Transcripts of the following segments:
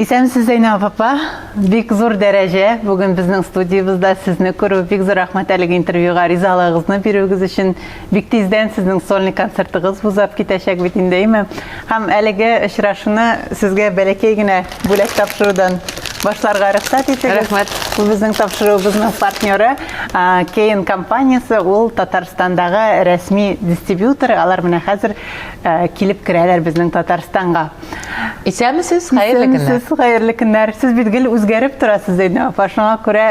Исәнмесез, Зәйнәб апа. Бик зур дәрәҗә. Бүген безнең студиябездә сезне күрү бик зур рәхмәт әлеге интервьюга ризалыгыгызны бирүегез өчен. Бик тиздән сезнең сольный концертыгыз бузап китәчәк бит инде, әйме? Һәм әлеге очрашуны сезгә бәләкәй генә бүләк тапшырудан башларга рөхсәт итегез. Рәхмәт. Бу безнең тапшыруыбызның партнеры Кейн компаниясе, ул Татарстандагы рәсми дистрибьютор. Алар менә хәзер килеп керәләр безнең Татарстанга. Исәнмесез, хәерле көннәр. Исәнмесез, хәерле көннәр. Сез бит гел үзгәреп торасыз, Зәйнә апа. Шуңа күрә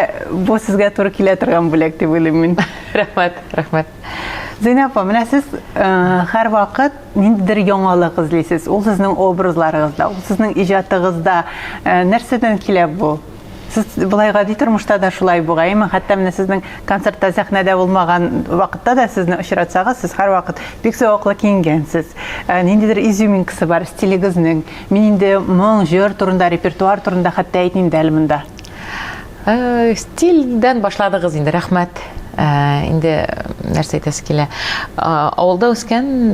бу сезгә туры килә торган бүләк дип уйлыйм мин. Рәхмәт, рәхмәт. Зәйнә апа, менә сез һәр вакыт ниндидер яңалык эзлисез. Ул сезнең образларыгызда, ул сезнең иҗатыгызда. Нәрсәдән килә бу? Сез былай гади тормышта да шулай бугаймы? Хәтта менә сезнең концертта сәхнәдә булмаган вакытта да сезне очратсагыз, сез һәрвакыт бик зәвыклы киенгәнсез. Э, ниндидер изюминкасы бар стилегезнең. Мин инде моң, җыр турында, репертуар турында хәтта әйтмим дә әле монда. Э, стильдән башладыгыз инде, рәхмәт. Э, инде нәрсә әйтәсе килә. Авылда үскән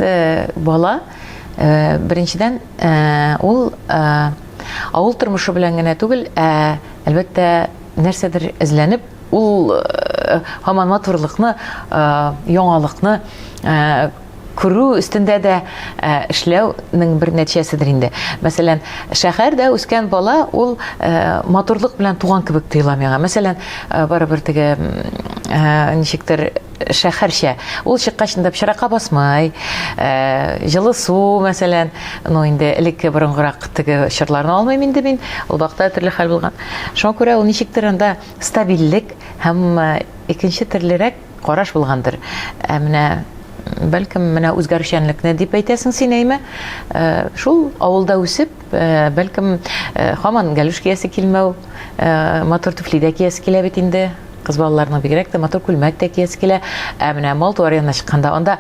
бала беренчедән Ә, ул ә, авыл тормышы белән генә түгел, ә әлбәттә нәрсәдер эзләнеп, ул ә, һаман матурлыкны, ә, яңалыкны ә, күрү өстендә дә ә, эшләүнең бер нәтиҗәседер инде. Мәсәлән, шәһәрдә үскән бала ул ә, матурлык белән туган кебек тоела миңа. Мәсәлән, ә, барыбер теге ә, ничектер шәхәрчә. Ул чыккач инде пычракка басмый, җылы су, мәсәлән, ну инде элекке борынгырак теге чорларны алмыйм инде мин, ул вакытта төрле хәл булган. Шуңа күрә ул ничектер анда стабильлек һәм икенче төрлерәк караш булгандыр. Ә менә, бәлкем, менә үзгәрүчәнлекне дип әйтәсең син, әйме? Шул авылда үсеп, Бәлкем, хаман галүш киясе килмәү, матур туфли дә киясе килә бит инде. Кыз балаларның бигрәк тә матур күлмәк тә киясе килә. Ә менә мал туар янына чыкканда, анда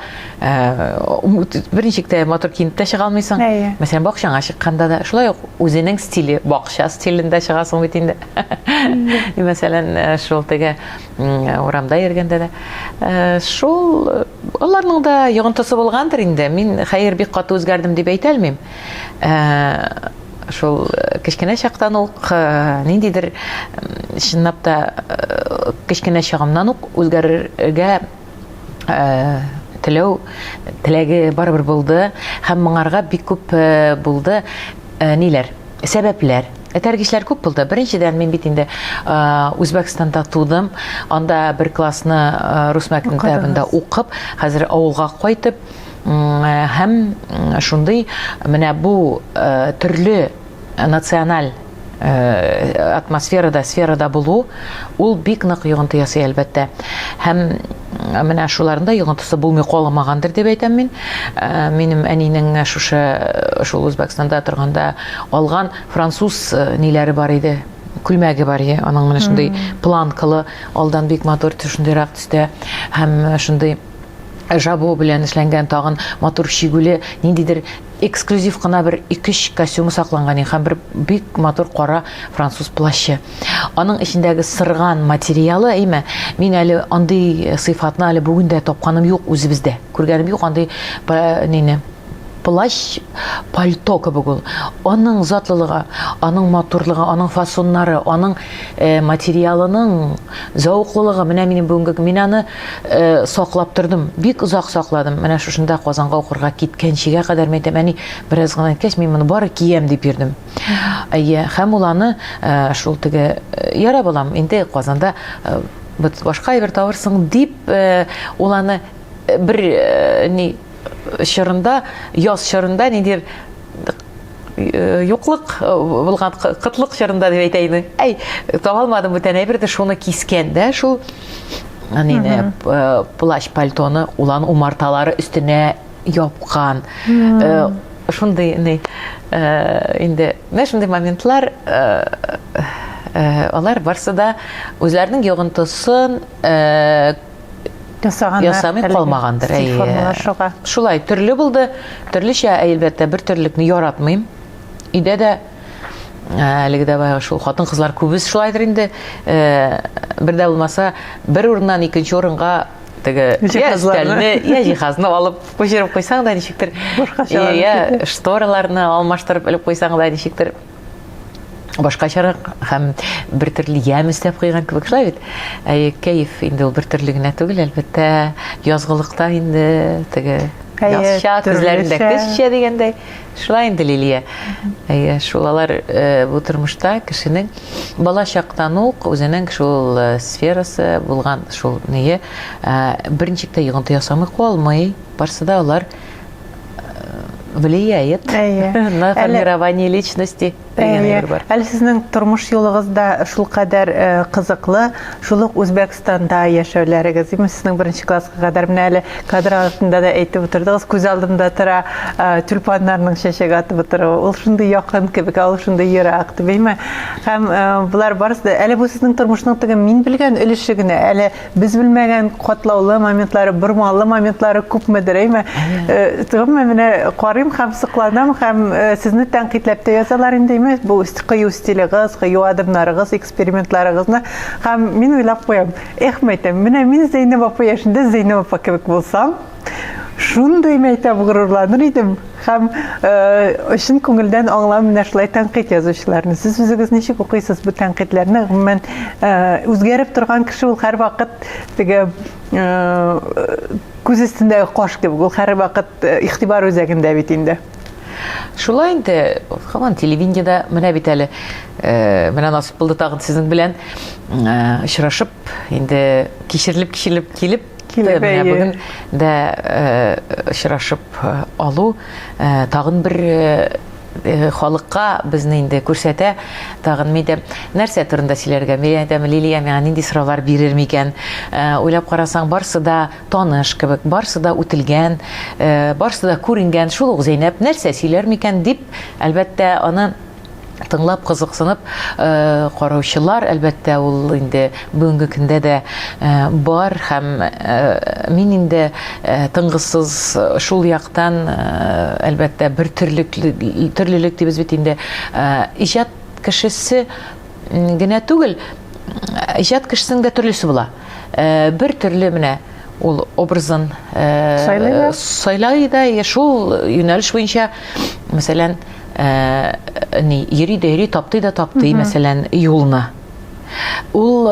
берничек тә матур киенеп тә чыга алмыйсың. Мәсәлән, бакчаңа чыкканда да, шулай ук үзенең стиле, бакча стилендә чыгасың бит инде. Мәсәлән, шул теге урамда йөргәндә дә. Шул, аларның да йогынтысы булгандыр инде. Мин хәер бик каты үзгәрдем дип әйтә алмыйм. шул кечкенә чактан ук ниндидер чынлап та кечкенә чагымнан ук үзгәрергә теләү теләге барыбер булды һәм моңарга бик күп булды ниләр сәбәпләр этәргечләр күп булды беренчедән мин бит инде үзбәкстанда тудым анда бер классны рус мәктәбендә укып хәзер авылга кайтып һәм шундый менә бу төрле националь атмосферада, сферада булу, ул бик нык йогынты ясый, әлбәттә. Һәм менә шуларында йогынтысы булмый калмагандыр дип әйтәм мин. Минем әнинең шушы шул Үзбәкстанда торганда алган француз ниләре бар иде, күлмәге бар иде. Аның менә шундый планкалы, алдан бик матур, шундыйрак төстә һәм шундый Жабо белән эшләнгән тагын матур чигүле, ниндидер эксклюзив кына бер икеш костюмы сакланган иде һәм бер бик матур кара француз плащы. Аның эчендәге сырган материалы, әйме, мин әле андый сыйфатны әле бүген дә тапканым юк үзебездә. Күргәнем юк андый нене. Плащ, пальто кебек ул. Аның затлылыгы, аның матурлыгы, аның фасоннары, аның материалының зәвыклылыгы, менә минем бүгенге, мин аны саклап тордым, бик озак сакладым. Менә шушында Казанга укырга киткәнчегә кадәр, мин әйтәм, әни, бераз гына әйткәч, мин моны бары киям дип йөрдем. Әйе, һәм ул аны шул теге, Ярар, балам, инде Казанда башка әйбер табырсың, дип, ул аны бер ни, чорында, яз чорында нидер Э, юклык э, булган кытлык чорында дип әйтә инде әй таба алмадым бүтән әйберде шуны кискән дә шул әнине э, плащ пальтоны улан умарталары өстенә япкан шундый ни инде менә шундый моментлар алар барсы да үзләренең йогынтысын ясаганнар. Ясамый калмагандыр. Стиль формалар шуга. Шулай, төрле булды. Төрлечә, әлбәттә, бер төрлелекне яратмыйм. Өйдә дә әлеге дә баягы шул хатын кызлар күбез шулайдыр инде. Бер дә булмаса, бер урыннан икенче урынга теге җиһазларны, я җиһазны алып күчереп куйсаң да ничектер, я штораларны алмаштырып элеп куйсаң да ничектер башкачарак һәм бер төрле ямь өстәп куйган кебек шулай бит ә кәеф инде ул бер төрле генә түгел әлбәттә язгылыкта инде теге язча күзләрендә көзчә дигәндәй шулай инде лилия әйе шул алар э, бу тормышта кешенең бала чактан ук үзенең шул э, сферасы булган шул ние э, берничек тә йогынты ясамый калмый барсы да алар влияет на формирование личности дигән әйбер бар. Әле сезнең тормыш юлыгыз да шулкадәр э, кызыклы, шул ук Үзбәкстанда яшәүләрегез, димме, сезнең беренче класска кадәр менә әле кадр артында да әйтеп утырдыгыз, күз алдымда тора э, тюльпаннарның чәчәк атып утыруы. Ул шундый якын кебек, ул шундый ерак, димме? Һәм э, болар барысы да әле бу сезнең тормышның теге мин белгән өлеше генә, әле Без белмәгән катлаулы моментлары, бормалы моментлары күпмедер, әйме? Э, Төгәмме менә карыйм һәм сыкланам һәм э, сезне тәнкыйтьләп тә язалар инде, әйме? Бу кыю стилегыз, кыю адымнарыгыз, экспериментларыгызны һәм мин уйлап куям, эх, мәйтәм, менә мин Зәйнәб апа яшендә Зәйнәб апа кебек булсам, Шундый мәктәп горурланыр идем һәм өчен күңелдән аңлау менә шулай тәнкыйть язучыларны. Сез үзегез ничек укыйсыз бу тәнкыйтьләрне? Гомумән, үзгәреп торган кеше ул һәрвакыт теге күз өстендәге кош кебек, ул һәрвакыт игътибар үзәгендә бит инде. Шулай инде, һаман телевидениедә менә бит әле э, менә насып булды тагын сезнең белән э, очрашып, инде кичерилеп-кичерилеп килеп Килеп менә бүген дә очрашып алу тагын бер Э, халыкка безне инде күрсәтә тагын мидә нәрсә турында сөйләргә мин әйтәм лилия миңа нинди сораулар бирер микән э, уйлап карасаң барсы да таныш кебек барсы да үтелгән э, барсы да күренгән шул ук зәйнәп нәрсә сөйләр микән дип әлбәттә аны тыңлап кызыксынып э, караучылар әлбәттә ул инде бүгенге көндә дә э, бар һәм э, мин инде тыңгысыз шул яктан әлбәттә бер төрлек төрлелек дибез бит инде иҗат кешесе Генә түгел, иҗат кешесенең дә төрлесе була. Э, бер төрле менә ул образын э, сайлый да, шул юнәлеш буенча, мәсәлән, э, ни, йөри дә йөри, таптый да таптый, мәсәлән, юлны. Ул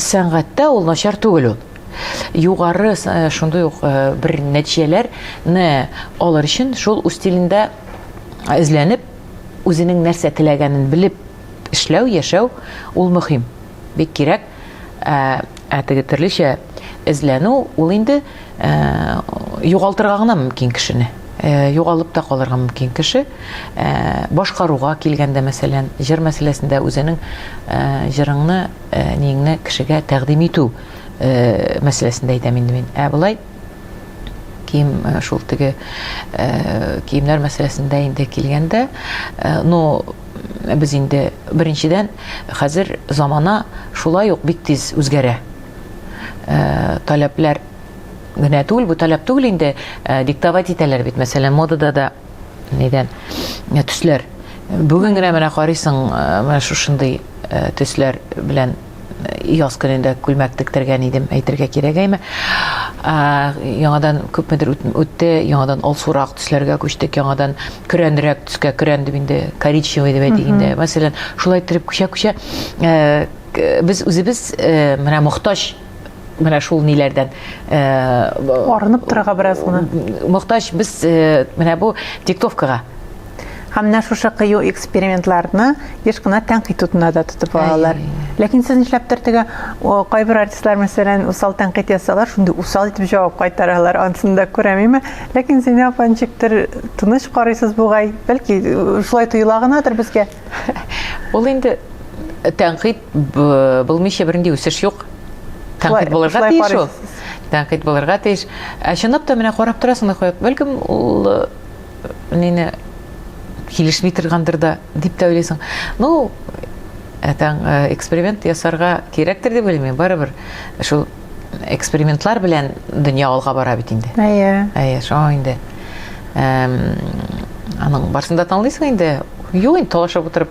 сәнгатьтә ул начар түгел ул. Югары шундый ук бер нәтиҗәләрне алыр өчен шул үз стилендә эзләнеп, үзенең нәрсә теләгәнен белеп Эшләү, яшәү, ул мөһим, бик кирәк, ә, ә теге төрлечә эзләнү, ул инде ә, югалтырга гына мөмкин кешене. Ә, югалып та калырга мөмкин кеше. Ә, башкаруга килгәндә, мәсәлән, җыр мәсьәләсендә үзенең ә, җырыңны, ә, ниеңне кешегә тәкъдим итү ә, мәсьәләсендә әйтәм инде мин. Ә болай, кием э, шул теге э, киемнәр мәсьәләсендә инде килгәндә э, но без инде беренчедән хәзер замана шулай ук бик тиз үзгәрә таләпләр генә түгел бу таләп түгел инде диктовать итәләр бит мәсәлән модада да нидән ә, төсләр бүген генә менә карыйсың э, менә шушындый э, төсләр белән э, яз көнендә күлмәк тектергән идем әйтергә кирәк әйме яңадан күпмедер үтте яңадан алсурак төсләргә күчтек яңадан көрәнрәк төскә көрән дип инде коричневый дип әйтик инде мәсәлән шулай иттереп күчә күчә без үзебез менә мохтаҗ менә шул ниләрдән э, арынып торырга бераз гына мохтаҗ без э, менә бу диктовкага һәм менә шушы кыю экспериментларны еш кына тәнкыйть утына да тотып алалар ләкин сез нишләптер теге кайбер артистлар мәсәлән усал тәнкыйть ясалар шундый усал итеп җавап кайтаралар ансын да күрәм име ләкин син апа ничектер тыныч карыйсыз бугай бәлки шулай тоела гынадыр безгә ул инде тәнкыйть Булмыйча бернинди үсеш юк. Тәнкыйть булырга тиеш ул. Тәнкыйть булырга тиеш. Ә чынлап та менә карап торасың да куеп, бәлкем ул э, нине килешми торгандыр да дип тә уйлыйсың. Ну, әтәң э, эксперимент ясарга кирәктер дип уйлыйм. Барыбер шул экспериментлар белән дөнья алга бара бит инде. Әйе. Әйе, шуңа инде. Эм, аның барсында танлыйсың инде. Юк, инде талашып утырып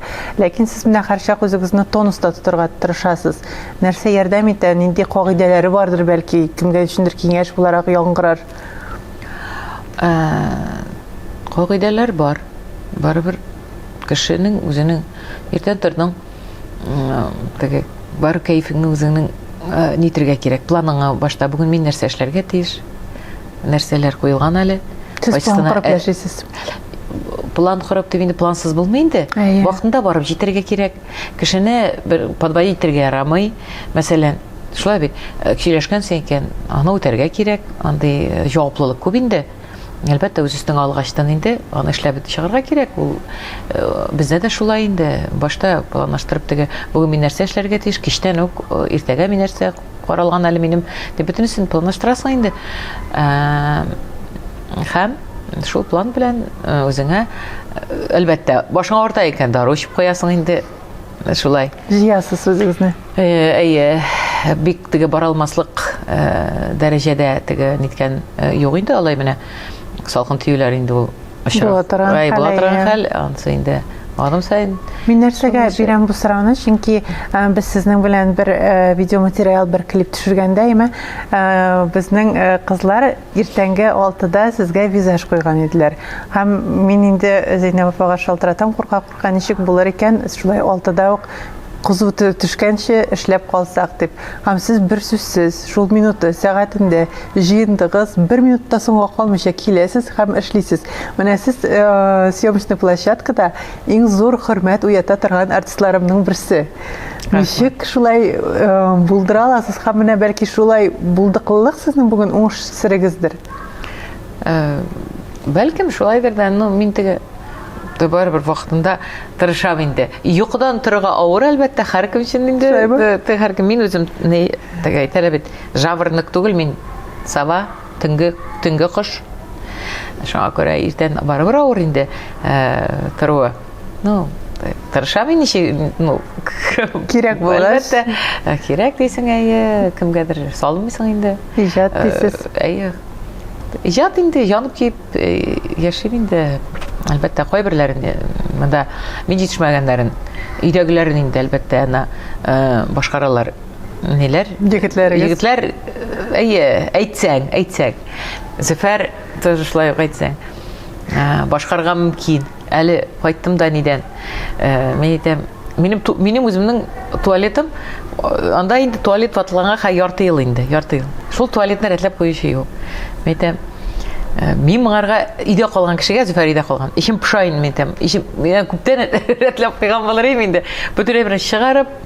Ләкин сез менә һәрчак үзегезне тонуста тотырга тырышасыз. Нәрсә ярдәм итә, нинди кагыйдәләре бардыр бәлки, кемгә өчендер киңәш буларак яңгырар? Ә, кагыйдәләр бар. Барыбер кешенең үзенең иртән тордың, теге бар кәефеңне үзеңнең нитергә кирәк. Планыңа башта бүген мин нәрсә эшләргә тиеш? нәрсәләр куелган әле. Сез план корып э, яшисез. План корып дип инде плансыз булмый инде. Вакытында барып җитәргә кирәк. Кешене бер подводить итәргә ярамый. Мәсәлән, шулай бит, э, сөйләшкәнсең икән, аны үтәргә кирәк. Андый э, җаваплылык күп инде. Әлбәттә, үз өстеңә алгачтан инде аны эшләп чыгарга кирәк. Ул бездә дә шулай инде. Башта планлаштырып теге, бүген мин нәрсә эшләргә тиеш, кичтән үк иртәгә мин нәрсә каралган әле минем дип бөтенесен планлаштырасың инде һәм шул план белән э, үзеңә э, әлбәттә башың авырта икән дару эчеп куясың инде э, шулай җыясыз үзегезне әйе бик теге бара алмаслык дәрәҗәдә теге ниткән юк инде алай менә салкын тиюләр инде ул Була торган хәл. Була торган хәл, ансы инде аным сайын. Мин нәрсәгә бирәм бу сорауны, чөнки без сезнең белән бер видеоматериал, бер клип төшергәндә, әмма безнең кызлар иртәнге 6-да сезгә визаж куйган иделәр. Һәм мин инде Зәйнәб апага шалтыратам, курка Ка ничек булыр икән, шулай алтыда ук кызу төшкәнче эшләп калсак, дип. Һәм сез берсүзсез, шул минуты, сәгатендә җыендыгыз, бер минут та соңга калмыйча киләсез һәм эшлисез. Менә сез съемочный площадкада иң зур хөрмәт уята торган артистларымның берсе. Ничек шулай булдыра аласыз һәм менә бәлки шулай булдыклылык сезнең бүген уңыш серегездер? Бәлкем шулайдыр да, ну мин теге Ты барыбер вакытында тырышам инде. Йокыдан торырга авыр, әлбәттә, һәркем өчен инде. Ты һәркем мин үзем не тәгә әйтәләр бит. Жаворонок түгел мин. Сава, төнге, төнге кош. Шуңа күрә иртән барыбер авыр инде э, торуы. Ну, тырышам мин ничек, ну, кирәк булгач. Әлбәттә, э, кирәк дисең, әйе, кемгәдер салмыйсың инде. Иҗат дисез. Э, әйе. Иҗат инде янып киеп Э, яшим инде, әлбәттә, кайберләрен э, монда мин җитешмәгәннәрен, өйдәгеләрен инде, әлбәттә, ана э, башкаралар. Ниләр? Егетләрегез. Егетләр, әйе, әйтсәң, әйтсәң. Зөфәр тоже шулай ук әйтсәң. Башкарга мөмкин. Әле кайттым да нидән. Э, мин әйтәм, минем минем үземнең туалетым э, анда инде туалет ватылганга хә ярты ел инде, ярты ел. Шул туалетны рәтләп куючы юк. Мин әйтәм, э, мин моңарга өйдә калган кешегә Зөфәр өйдә калган. Ишем пыша инде мин әйтәм. Ишем мин күптән рәтләп куйган булыр идем инде. Бөтенләй бер чыгарып,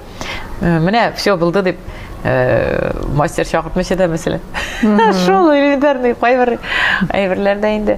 э, менә все булды дип мастер чакыртмыйча да мәсәлән. Шул элементарный кайбер әйберләрдә инде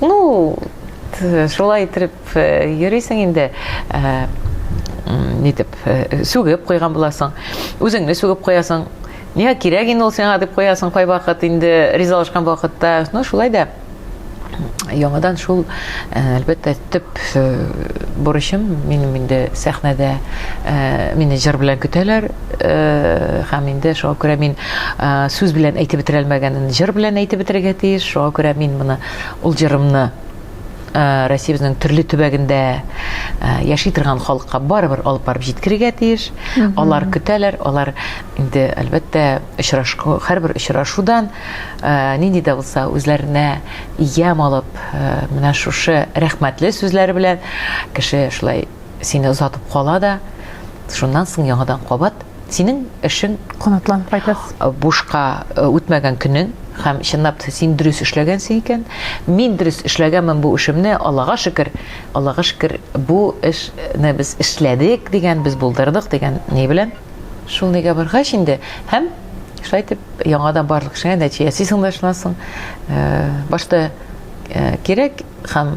Ну, шулай итеп э, йөрисең инде. Э, нитеп, э, сүгеп куйган буласың. Үзеңне сүгеп куясың. Нигә кирәк инде ул сиңа дип куясың кайвакыт инде ризалашкан вакытта. Ну, шулай да яңадан шул әлбәттә төп бурычым минем инде сәхнәдә мине җыр белән көтәләр Э, һәм инде шуңа күрә мин э, сүз белән әйтеп бетерә алмаганын җыр белән әйтеп бетерергә тиеш шуңа күрә мин моны ул җырымны э, Россиябезнең төрле төбәгендә яши торган халыкка барыбер алып барып җиткерергә тиеш. Алар көтәләр, алар инде әлбәттә очрашу, һәрбер очрашудан нинди дә булса үзләренә ям алып, менә шушы рәхмәтле сүзләр белән кеше шулай сине озатып кала да, шуннан соң яңадан кабат синең эшең канатланып кайтасыз. Бушка э, үтмәгән көнең һәм чынлап та син дөрес эшләгәнсең икән. Мин дөрес эшләгәнмен бу эшемне, Аллага шөкер. Аллага шөкер, бу эшне без эшләдек дигән, без булдырдык дигән ни белән? Шул нигә баргач инде һәм шулай итеп яңадан барлык эшеңә нәтиҗә ясыйсың да шуннан соң э, башта э, кирәк һәм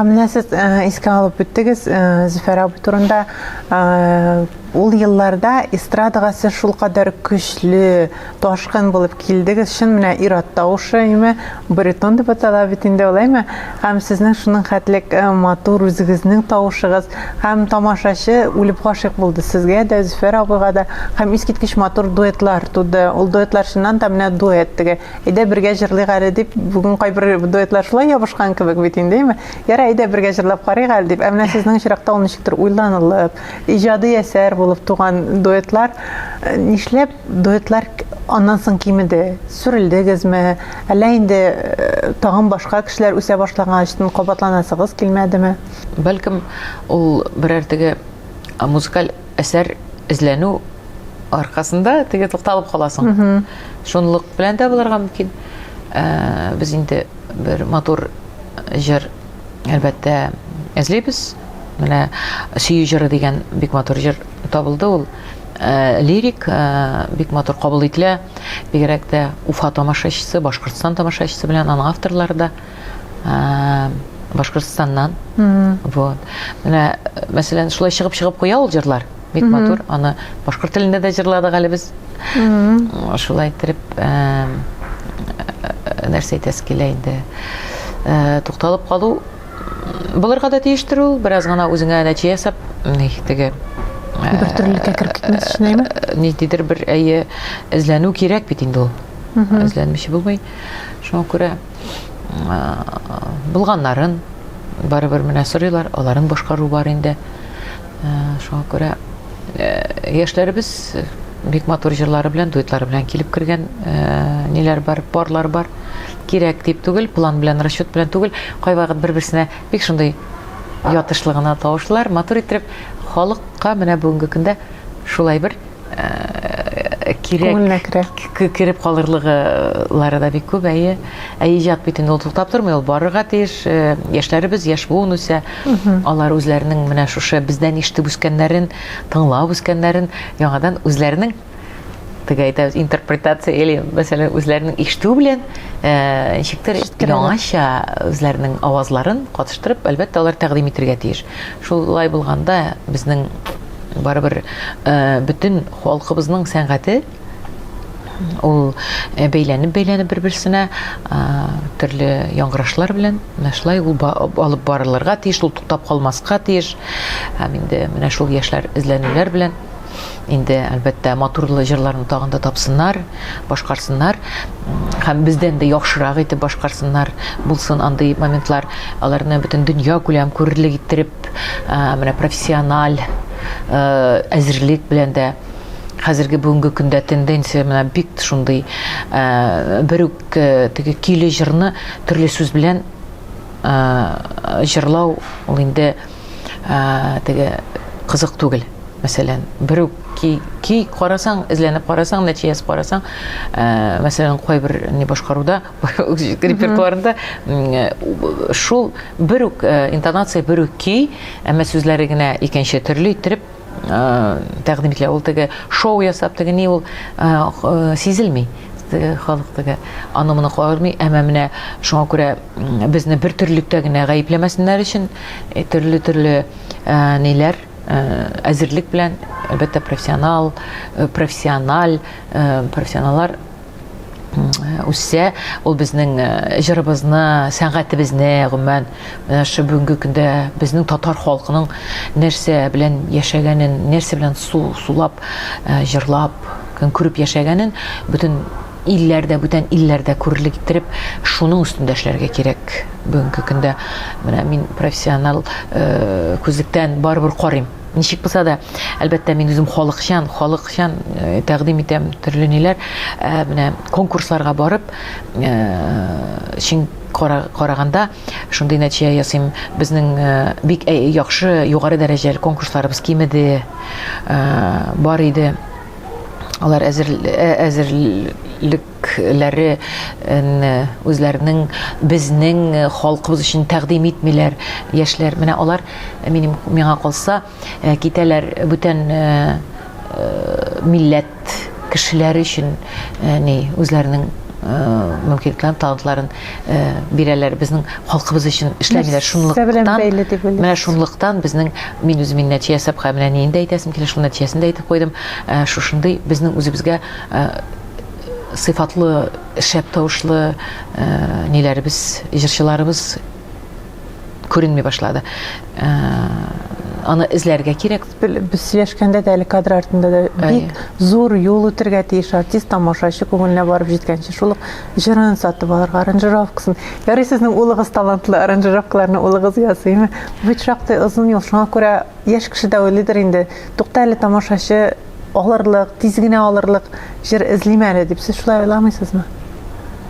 Һәм менә сез искә алып үттегез Зөфәр абый турында. Ул елларда эстрадага сез шулкадәр көчле, ташкын булып килдегез. Чын менә ир-ат тавышы, әйме, баритон дип атала бит инде ул, әйме? Һәм сезнең шуның хәтлек матур үзегезнең тавышыгыз һәм тамашачы үлеп гашыйк булды сезгә дә, Зөфәр абыйга да. Һәм искиткеч матур дуэтлар туды. Ул дуэтлар чыннан да менә дуэт теге Әйдә бергә җырлыйк әле дип, бүген кайбер дуэтлар шулай ябышкан кебек бит инде, әйме? Ярай, әйдә бергә җырлап карыйк әле дип. Ә менә сезнең очракта ул ничектер уйланылып, иҗади әсәр булып туган дуэтлар. Нишләп дуэтлар аннан соң кимеде? Сүрелдегезме? Әллә инде тагын башка кешеләр үсә башлаган өчен кабатланасыгыз килмәдеме? Бәлкем, ул берәр теге музыкаль әсәр эзләнү аркасында теге тукталып каласың шунлык белән дә булырга мөмкин ә, без инде бер матур җыр әлбәттә эзлибез менә сөю җыры дигән бик матур җыр табылды ул ә, лирик ә, бик матур кабул ителә бигрәк тә уфа тамашачысы башкортстан тамашачысы белән аның авторлары да Башкортстаннан. Вот. Менә, мәсәлән, шулай чыгып-чыгып куя ул җырлар. Бик матур. Аны башкорт телендә дә җырладык әле без. Шулай иттереп, нәрсә әйтәсе килә инде. Тукталып калу булырга да тиештер ул, бераз гына үзеңә нәтиҗә ясап, теге бер төрлелеккә кереп китмәс өчен әйме? Ниндидер бер әйе эзләнү кирәк бит инде ул. Эзләнмичә булмый. Шуңа күрә булганнарын барыбер менә сорыйлар, аларның башкару бар инде. Шуңа күрә яшьләребез бик матур җырлары белән, дуэтлары белән килеп кергән ниләр бар, парлар бар. Кирәк дип түгел, план белән, расчет белән түгел, кайвакыт бер-берсенә бик шундый ятышлыгына тавышлар, матур итеп халыкка менә бүгенге көндә шулай бер э, кирәк кереп калырлыгылары да бик күп әйе ә иҗат бит инде ул туктап тормый ул барырга тиеш э, яшьләребез яшь буын үсә алар үзләренең менә шушы бездән ишетеп үскәннәрен тыңлап үскәннәрен яңадан үзләренең теге әйтәбез интерпретация или мәсәлән үзләренең ишетү белән э, ничектер яңача үзләренең авазларын катыштырып әлбәттә алар тәкъдим итәргә тиеш шулай булганда безнең Барыбер бөтен халкыбызның сәнгате ул бәйләнеп бәйләнеп бер берсенә төрле яңгырашлар белән менә шулай ул алып барылырга тиеш ул туктап калмаска тиеш һәм инде менә шул яшьләр эзләнүләр белән инде әлбәттә матурлы җырларны тагын да тапсыннар башкарсыннар һәм бездән дә яхшырак итеп башкарсыннар булсын андый моментлар аларны бөтен дөнья күләм күрерлек иттереп менә профессиональ әзерлек белән дә хәзерге бүгенге көндә тенденция менә бик шундый бер үк теге көйле җырны төрле сүз белән җырлау ул инде теге кызык түгел мәсәлән бер үк ки, ки карасаң эзләнеп карасаң нәтиҗәсен карасаң мәсәлән кайбер не башкаруда репертуарында шул бер үк интонация бер үк көй әмма сүзләре генә икенче төрле иттереп тәкъдим ителә ул теге шоу ясап теге ни ул сизелми теге халык теге аны моны кагырмый әмма менә шуңа күрә безне бер төрлелектә генә гаепләмәсеннәр өчен төрле төрле ниләр әзерлек белән әлбәттә профессионал профессиональ профессионаллар үссә, ул безнең э, җырыбызны, сәнгатебезне, гомумән, менә шу бүгенге көндә безнең татар халкының нәрсә белән яшәгәнен, нәрсә белән су сулап, э, җырлап, көн күреп яшәгәнен бөтен илләрдә, бүтән илләрдә күрерлек иттереп, шуның өстендә эшләргә кирәк. Бүгенге көндә менә мин профессионал э, күзлектән барыбер карыйм. Ничек булса да, әлбәттә, мин үзем халыкчан, халыкчан тәкъдим итәм төрле ниләр. Менә конкурсларга барып, чын караганда шундый нәтиҗә ясыйм. Безнең бик яхшы, югары дәрәҗәле конкурсларыбыз кимеде, бар иде. Алар әзер әзерлек үзәкләре не үзләренең безнең халкыбыз өчен тәкъдим итмиләр яшьләр. Менә алар минем миңа калса китәләр бүтән милләт кешеләре өчен ни үзләренең мөмкинлекләрен, талантларын бирәләр. Безнең халкыбыз өчен эшләмиләр. Шунлыктан менә шунлыктан безнең мин үзем мин нәтиҗә ясап менә нинди әйтәсем килә, шул нәтиҗәсен дә әйтеп куйдым. Шушындый безнең үзебезгә сыйфатлы шәп тавышлы э, ниләребез җырчыларыбыз күренми башлады э, аны эзләргә кирәк без сөйләшкәндә дә әле кадр артында да бик зур юл үтергә тиеш артист тамашачы күңеленә барып җиткәнче шул ук җырын сатып алырга аранжировкасын ярый сезнең улыгыз талантлы аранжировкаларны улыгыз ясыймы бит шактый озын юл шуңа күрә яшь кеше дә уйлыйдыр инде тукта әле тамашачы алырлык, тиз генә алырлык җыр эзлим әле дип сез шулай уйламыйсызмы?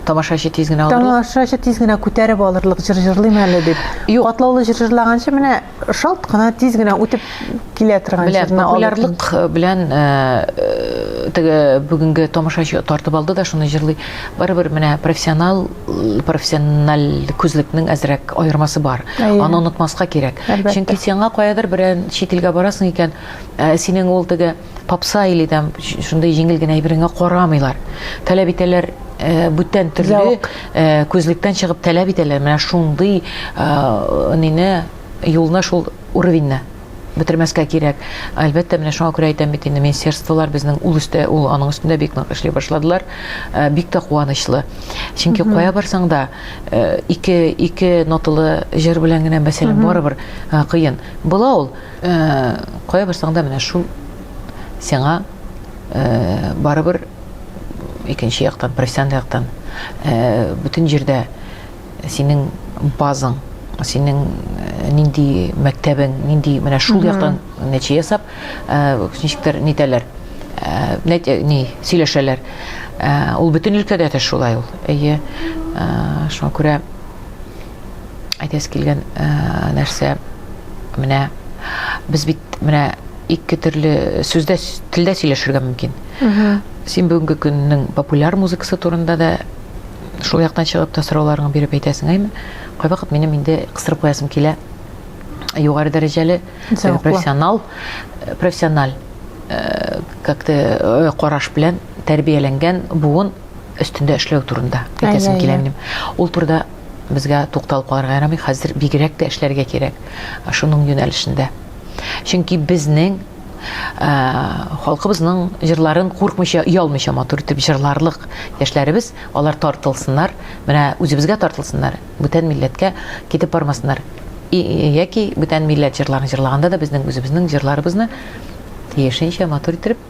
тамашачы тиз генә алырлык тамашачы тиз генә күтәреп алырлык җыр җырлыйм әле дип юк катлаулы җыр җырлаганчы менә шалт кына тиз генә үтеп килә торган җырны популярлык э, белән э, э, теге бүгенге тамашачы тартып алды да шуны җырлый барыбер менә профессионал профессиональ күзлекнең әзрәк аермасы бар аны онытмаска кирәк чөнки сиңа каядыр берән чит илгә барасың икән Ә синең ул теге попса или там шундый җиңел генә әйбереңә карамыйлар. Таләп итәләр э, бүтән төрле э, күзлектән чыгып таләп итәләр. Менә шундый э, нине юлны шул уровеньне бетермәскә кирәк. Әлбәттә, менә шуңа күрә әйтәм бит инде, министерстволар безнең ул өстә, ул аның өстендә бик нык эшли башладылар. Э, бик тә куанычлы. Чөнки кая барсаң да, э, ике ике ноталы җыр белән генә мәсәлән барыбер э, кыен. Була ул. Кая барсаң да менә шул сиңа барыбер икенче яктан, профессиональ яктан бөтен җирдә синең базың, синең нинди мәктәбең, нинди менә шул яктан нәтиҗә ясап, ничектер нитәләр, ни сөйләшәләр. Ул бөтен өлкәдә дә шулай ул. Әйе. Шуңа күрә Әйтәсе килгән э, нәрсә менә без бит менә ике төрле сүздә телдә сөйләшергә мөмкин. Син бүгенге көннең популяр музыкасы турында да шул яктан чыгып та сорауларыңны биреп әйтәсең әйме? Кайвакыт минем инде кыстырып куясым килә. Югары дәрәҗәле э, профессионал э, профессиональ э, как-то караш белән тәрбияләнгән буын өстендә эшләү турында әйтәсем килә минем. Ул турыда Безгә тукталып калырга ярамый, хәзер бигрәк тә эшләргә кирәк шуның юнәлешендә. Чөнки безнең ә, халкыбызның җырларын куркмыйча, оялмыйча матур итеп җырларлык яшьләребез, алар тартылсыннар, менә үзебезгә тартылсыннар, бүтән милләткә китеп бармасыннар. И, яки бүтән милләт җырларын җырлаганда да безнең үзебезнең җырларыбызны тиешенчә матур итеп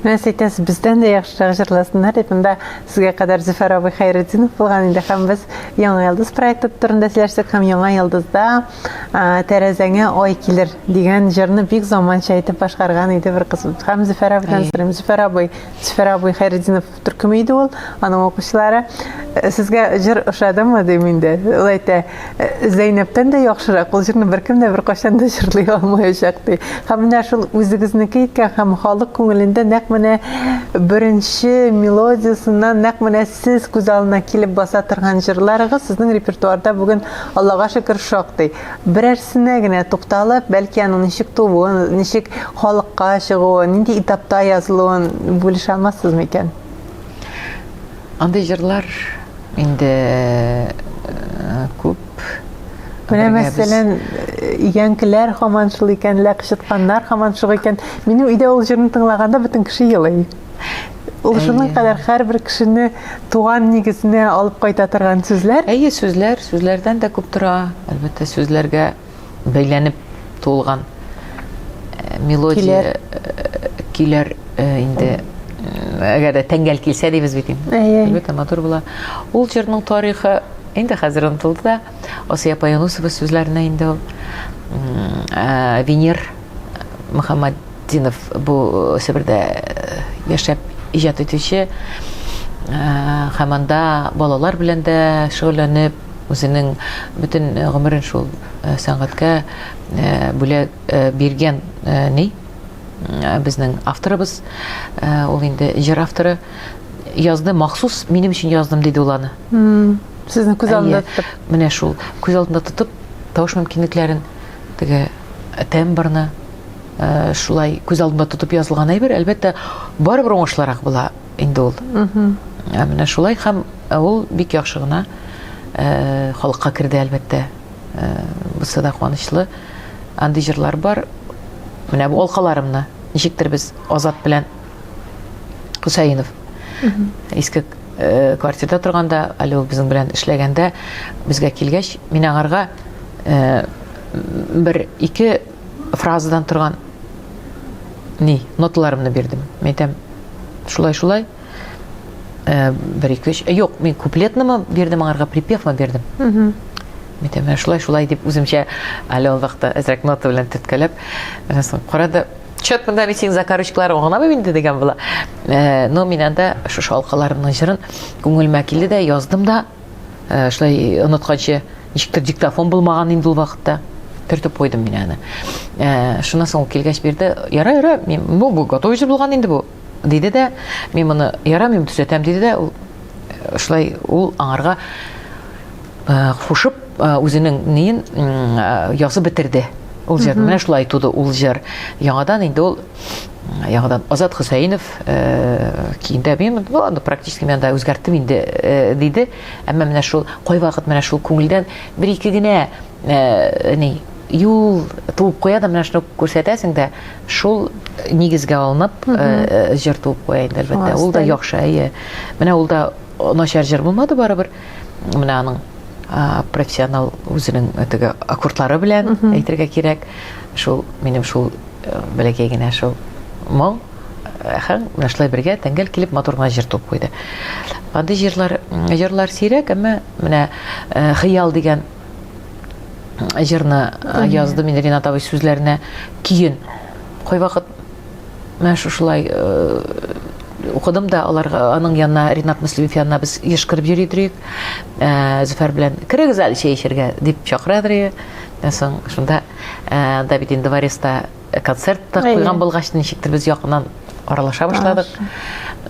Менә сәйтәс бездән дә яхшырак җырласыннар дип монда сезгә кадәр Зөфәр абый Хәйретдинов булган инде һәм без Яңа йолдыз проекты турында сөйләштек һәм Яңа йолдызда тәрәзәңә ай килер дигән җырны бик заманча итеп башкарган иде бер кыз һәм зөфәр абыйдан сорыйм зөфәр абый зөфәр абый хәйретдинов төркеме иде ул аның укучылары э, сезгә җыр ошадымы дим инде ул әйтә «Э, зәйнәптән дә яхшырак ул җырны беркем дә беркайчан да җырлый алмаячак ди һәм менә шул үзегезнеке иткән һәм халык күңелендә нәкъ менә беренче мелодиясеннән нәкъ менә сез күз алдына килеп баса торган җырларыгыз сезнең репертуарда бүген Аллага шөкер, шактый. Берәрсенә генә тукталып, бәлки аның ничек тууын, ничек халыкка чыгуын, нинди этапта язылуын бүлешә алмассызмы икән? Андый җырлар инде э, күп. Менә мәсәлән, янкеләр хаман шул икән, ләкъ чытканнар хаман шул икән. Минем өйдә ул җырны тыңлаганда бөтен кеше елый. Ул шуның кадәр һәрбер кешене туган нигезенә алып кайта торган сүзләр. Әйе, сүзләр, сүзләрдән дә күп тора. Әлбәттә, сүзләргә бәйләнеп туылган э, мелодия килер э, э, инде әгәр дә тәңгәл килсә дибез бит инде. Әлбәттә, матур була. Ул җырның тарихы инде хәзер онытылды да. Асия апа Юнусова сүзләренә инде ул э, Венер Мөхәммәтдинов бу э, Себердә э, яшәп иҗат итүче һәм анда балалар белән дә шөгыльләнеп, үзенең бөтен гомерен шул сәнгатькә бүләк биргән ни безнең авторыбыз, ул инде җыр авторы язды, махсус минем өчен яздым диде ул аны. Сезне күз алдында тотып. Менә шул. Күз алдында тотып, тавыш мөмкинлекләрен, теге э, тембрны э, шулай күз алдында тотып язылган әйбер, әлбәттә, барыбер уңышлырак була инде ул. Ә менә шулай һәм э, ул бик яхшы гына э, халыкка керде, әлбәттә. Э, бусы да куанычлы. Андый җырлар бар. Менә бу алкаларымны ничектер без Азат белән Хусаинов. Иске э, квартирда торганда, әле ул безнең белән эшләгәндә, безгә килгәч, мин аңарга э, бер ике фразадан торган ни, ноталарымны бирдем. Мин әйтәм, шулай, шулай, э, бер ике өч, юк, мин куплетнымы бирдем аңарга, припевмы бирдем. Мин әйтәм, шулай, шулай дип үземчә әле ул вакытта әзрәк нота белән төрткәләп, аннан соң карады, Чат монда мин синең закорочкалар оңламыйм инде дигән була. Э, но мин анда шушы алкаларымның җырын күңелмә килде дә яздым да. Э, шулай онытканчы ничектер диктофон булмаган инде ул вакытта. Төртеп куйдым мин аны. Э, шуннан соң килгәч бирде. Яра, яра, мин бу готовый булган инде бу. Диде дә, мин моны яра, мин төзәтәм, диде дә, ул шулай ул аңарга кушып үзенең неен язып бетерде. Ул җыр менә шулай туды ул җыр. Яңадан инде ул яңадан Азат Хөсәинов киендә мин аны практически мен да үзгәрттем инде диде. Әмма менә шул кайвакыт менә шул күңелдән бер ике генә ни юл туып куя да менә шуны күрсәтәсең дә Шул нигезгә алынып җыр туып куя инде, әлбәттә. Ул да яхшы, әйе. Менә ул да начар җыр булмады барыбер. Менә аның профессионал үзенең теге аккордлары белән әйтергә кирәк. Шул минем шул э, бәләкәй генә шул моң һәм менә шулай бергә тәңгәл килеп матур гына җыр туып куйды. Андый җырлар җырлар сирәк, әмма менә э, хыял дигән җырны э, яздым инде Ренат абый сүзләренә көен. Кайвакыт менә шушылай э, укыдым да аларга аның янына Ренат Мөслимов янына без еш кереп йөри идек. Э, Зөфәр белән керегез әле чәй эчәргә дип чакыра идек. Соң шунда Давид инде Вареста Э, концерт та куйган булгач ничектер без якыннан аралаша башладык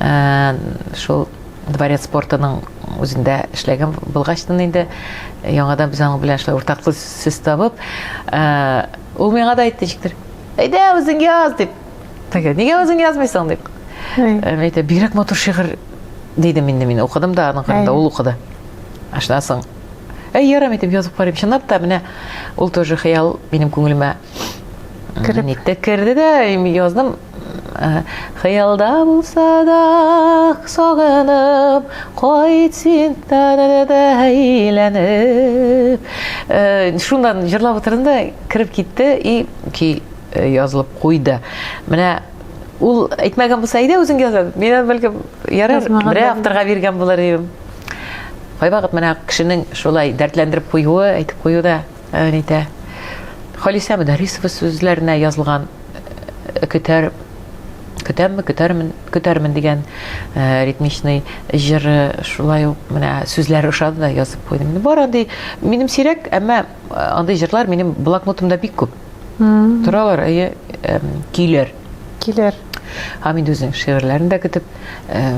э, шул дворец спортының үзендә эшләгән булгачтын инде э, яңадан без аның белән шулай уртаклык сүз табып ул миңа да әйтте ничектер әйдә үзең яз дип теге нигә үзең язмыйсың дип мин әйтә бигрәк матур шигырь дидем инде мин укыдым да аның кырында ул укыды ашынасың әй ярам итеп язып карыйм чынлап та менә ул тоже хыял минем күңелемә Кереп. Ник тә керде дә, язdım. Хыялда булса да сагынып, кайт син тәнәдә әйләнеп. Шундан җырлап утырдым да кереп китте и ки язылып куйды. Менә ул әйтмәгән булса, әйдә үзең яза. Мин бәлкем ярар, бер авторга биргән булыр идем. Кайвакыт менә кешенең шулай дәртләндереп куюы, әйтеп куюы да Ритә. Халисә Мөдәррисова сүзләренә язылган Көтәр көтәмме, көтәрмен, көтәрмен дигән ритмичный җыры шулай ук менә сүзләре ошады да язып куйдым. Бар андый минем сирәк, әмма андый җырлар минем блокнотымда бик күп. Торалар, әйе, килер. Килер. Хамид үзенең шигырьләрен дә көтеп,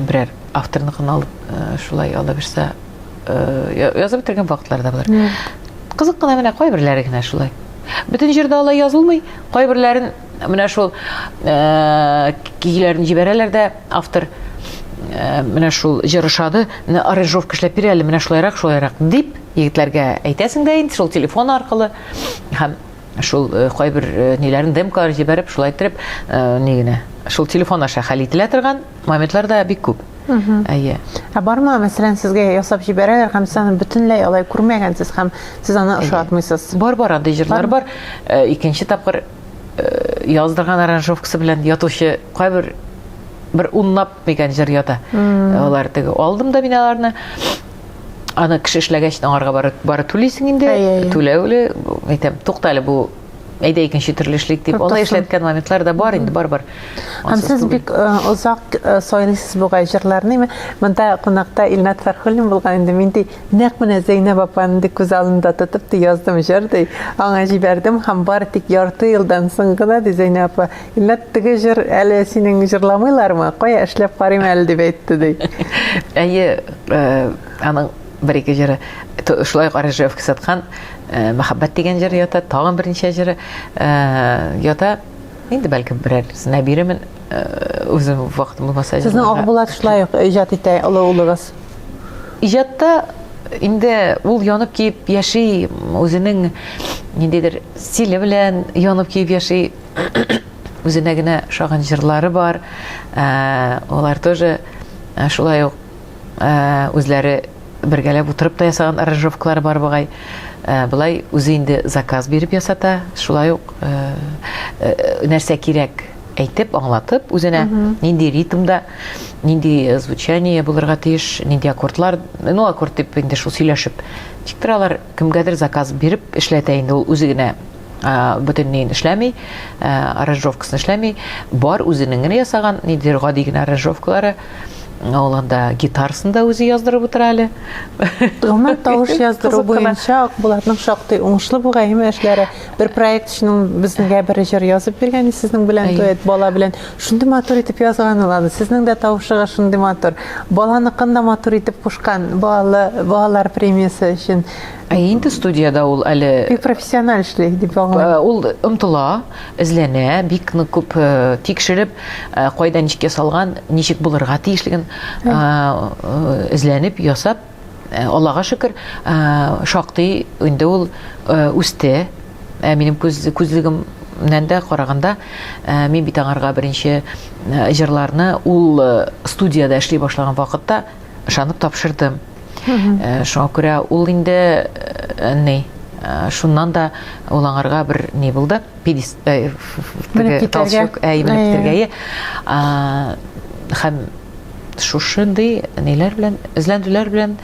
берәр авторныкын алып, шулай алаберсә э, язып бетергән вакытлар да бар кызык кына менә кайберләре генә шулай бөтен җирдә алай язылмый кайберләрен менә шул э, көйләрен җибәрәләр дә автор э, менә шул җыр ошады менә аранжировка эшләп бир әле менә шулайрак шулайрак дип егетләргә әйтәсең дә инде шул телефон аркылы һәм шул э, кайбер ниләрен демкалар җибәреп шулай иттереп ни генә шул телефон аша хәл ителә торган Моментлар да бик күп. Әйе. Ә бармы, мәсәлән, сезгә ясап җибәрәләр һәм сез аны бөтенләй алай күрмәгәнсез һәм сез аны ошатмыйсыз? Бар бар андый җырлар бар. Э, икенче тапкыр э, яздырган аранжировкасы белән ятучы кайбер бер унлап дигән җыр ята. Алар теге алдым да мин аларны. Аны кеше эшләгәч аңарга бары бары түлисең инде. Түләүле, әйтәм, туктале бу әйдә икенче төрле эшлик дип алай эшләткән моментлар да бар инде барыбер һәм сез бик э, озак э, сайлыйсыз бугай җырларны монда кунакта илнат фәрхуллин булган инде мин ди нәкъ менә зәйнәб апаны ди күз алдында тотып ди яздым җыр ди аңа җибәрдем һәм бары тик ярты елдан соң гына ди зәйнәб апа илнат теге җыр әле синең җырламыйлармы кая эшләп карыйм әле дип әйтте ди әйе э, аның бер-ике җыры. Шулай ук Арыжевка саткан э, мәхәббәт дигән җыр ята, тагын берничә җыры э, ята. Инде бәлкем берәр нәбиремен э, үзем вакыт булмаса. Сезнең Акбулат шулай ук иҗат итә олы улыгыз. Иҗатта инде ул янып киеп яши, үзенең ниндидер стиле белән янып киеп яши. Үзенә генә шагын җырлары бар. Алар тоже шулай ук үзләре бергәләп утырып та ясаган аранжировкалары бар бугай. Э, былай үзе инде заказ биреп ясата, шулай ук э, э, нәрсә кирәк әйтеп, аңлатып үзенә, нинди ритмда, нинди звучание булырга тиеш, нинди аккордлар, ну аккорд дип инде шул сөйләшеп. Тик торалар Кемгәдер заказ биреп эшләтә инде ул үзе генә бөтенләйен эшләми, аранжировкасын эшләми, бар үзенең генә ясаган, нидер гади генә аранжировкалары. Ул анда гитарасын да үзе яздырып утыра әле. Гомумән тавыш яздыру буенча Акбулатның шактый уңышлы бу гаиме эшләре. Бер проект өчен безгә бер җыр язып биргән сезнең белән дуэт бала белән. Шундый матур итеп язган ул аны. Сезнең дә тавышыгыз шундый матур. Баланыкын да матур итеп кушкан. Балалы балалар премиясе өчен. Ә инде студиядә ул әле бик профессиональ эшли дип аңлыйм. Ул омтыла, эзләнә, бик нык күп тикшереп, кайда ничек ясалган, ничек булырга тиешлеген эзләнеп, ясап Э, Аллага шөкер, э, шактый инде ул э, үсте. Минем күз күзлегемнән дә караганда, мин бит аңарга беренче җырларны ул студияда эшли башлаган вакытта ышанып тапшырдым. Шуңа күрә ул инде ни, шуннан да ул аңарга бер ни булды. педис э, теге толчок ә именно битергәе һәм шушындый ниләр белән эзләндүләр белән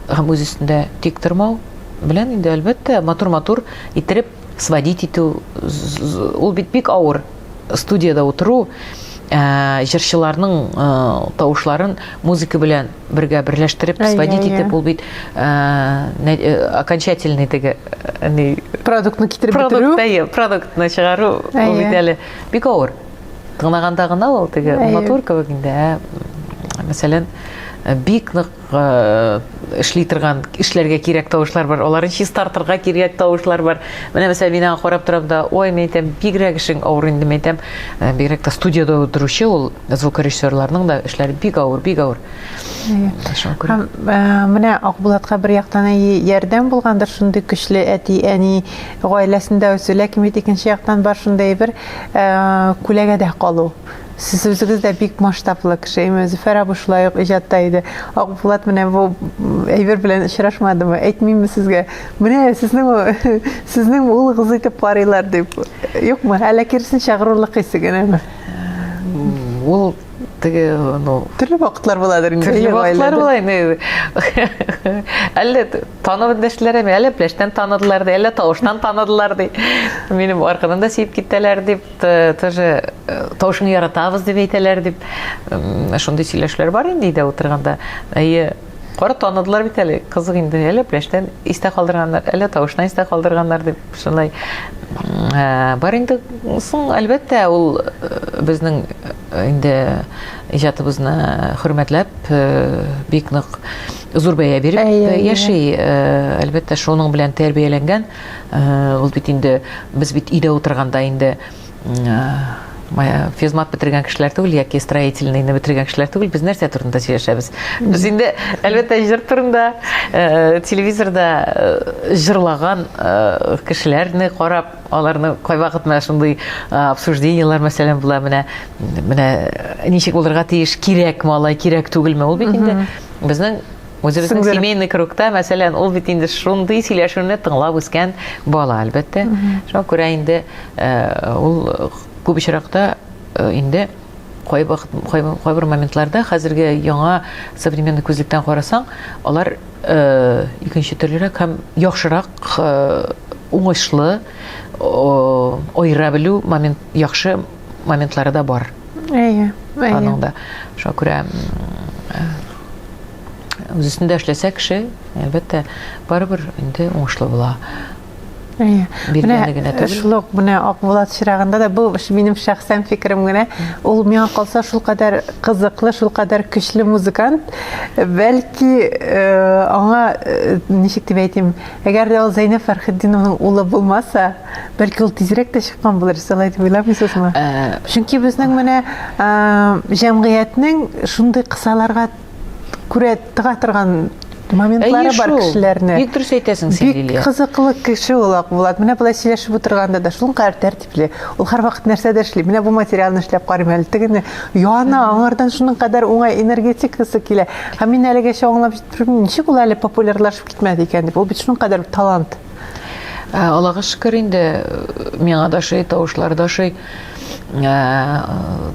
һәм үз өстендә тик тормау белән инде әлбәттә матур матур иттереп сводить итү ул бит бик авыр студияда утыру ә, җырчыларның ә, тавышларын музыка белән бергә берләштереп сводить итеп ул бит окончательный теге продуктны китереп бетерү продукт продуктны чыгару ул бит әле бик авыр тыңлаганда гына ул теге матур кебек инде ә мәсәлән бик нык эшли торган эшләргә кирәк тавышлар бар аларын чистартырга кирәк тавышлар бар менә мәсәлән мин аңа карап торам да ой мен әйтәм бигрәк эшең авыр инде мен әйтәм бигрәк тә студияда утыручы ул звукорежиссерларның да эшләре бик авыр, бик авыр. Һәм менә Акбулатка бер яктан әйе ярдәм булгандыр шундый көчле әти, әни гаиләсендә үсү, ләкин бит икенче яктан бар шундый бер күләгәдә калу. Сез үзегез дә бик масштаблы кеше, әмма Зөфәр абый шулай ук иҗатта иде. Акбулат менә бу әйбер белән очрашмадымы? Әйтмимме сезгә? Менә сезнең сезнең улыгыз итеп карыйлар дип. Юкмы? Әллә киресенчә горурлык исе генәме? Ул теге, ну... Төрле вакытлар буладыр инде. Төрле вакытлар була инде. Әллә танып индәшләр әме, әллә пләштән таныдылар ди, әллә тавыштан таныдылар ди. Минем аркадан да сиеп китәләр дип, тоже э, тавышын яратабыз дип әйтәләр дип. Шундый сөйләшләр бар инде өйдә утырганда. Әйе, Кара таныдылар бит әле, кызык инде, әле пляжтан истә калдырганнар, әле тавышына истә калдырганнар дип шулай. Ә, бар инде, соң, әлбәттә, ул э, безнең э, инде иҗатыбызны хөрмәтләп, э, бик нык зур бәя биреп э, яши. Э, әлбәттә, шуның белән тәрбияләнгән. Э, ул бит инде, без бит өйдә утырганда инде физмат бетергән кешеләр түгел яки строительныйны бетергән кешеләр түгел без нәрсә турында сөйләшәбез без инде әлбәттә җыр турында э, телевизорда э, җырлаган э, кешеләрне карап аларны кайвакыт менә шундый обсуждениелар мәсәлән була менә менә ничек булырга тиеш кирәкме алай кирәк түгелме ул бит инде безнең Үзебезнең Сеңдер... семейный кругта, мәсәлән, ул бит инде шундый сөйләшүне тыңлап үскән бала, әлбәттә. Шуңа күрә инде э, ул күп очракта э, инде кайбер моментларда хәзерге яңа современный күзлектән карасаң, алар э, икенче төрлерәк һәм яхшырак уңышлы айыра белү момент яхшы моментлары да бар. Әйе, әйе. Аның да. Шуңа күрә үз өстендә эшләсә кеше, әлбәттә, барыбер инде уңышлы була. Әйе. Биргәне генә түгел. Шул ук менә Акбулат чирагында да бу минем шәхсән фикерем генә. Ул миңа калса шул кадәр кызыклы, шул кадәр көчле музыкант. Бәлки э, аңа э, ничек дип әйтим, әгәр дә ул Зәйнәп Фәрхетдиновның улы булмаса, Бәлки ул тизрәк тә чыккан булыр, сез алай дип уйламыйсызмы? Ә... Чөнки безнең менә ә, җәмгыятьнең шундый кысаларга күрә тыга торган моментлары Әйе, бар шул. кешеләрне. Бик дөрес әйтәсең син, Лилия. Бик кызыклы кеше ул Акбулат. Менә болай сөйләшеп утырганда да шул кадәр тәртипле. Ул һәрвакыт нәрсәдер эшли. Менә бу материалны эшләп карыйм әле. Тегене яна, аңардан шуның кадәр уңай энергетикасы килә. Һәм мин әлегәчә аңлап җитмим, ничек ул әле популярлашып китмәде икән дип. Ул бит шуның кадәр талант. Ә, Аллага шөкер инде миңа да шый тавышлар да шый. Ә,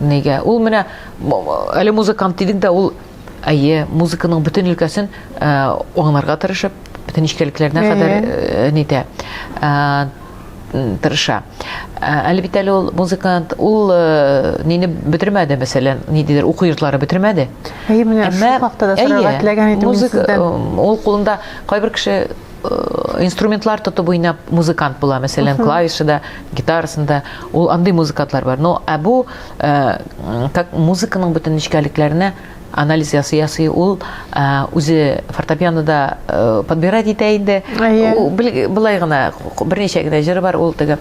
нигә? Ул менә әле музыкант дидек дә ул әйе, музыканың бөтен өлкәсен ә, аңларга тырышып, бөтен нечкәлекләренә кадәр ә, нитә. Ә, тырыша. Ә, әле бит әле ул музыкант, ул ә, нине бетермәде, мәсәлән, ни дидер, уку йортлары бетермәде. Әйе, менә шул хакта да сорарга теләгән идем музыка, Ул кулында кайбер кеше инструментлар тотып уйнап музыкант була мәсәлән клавишада гитарасында ул андый музыкантлар бар но ә бу э, как музыканың бөтен нечкәлекләренә анализ ясый ясый ул э, үзе фортепианода э, подбирать итә инде былай гына берничә генә җыры бар ул теге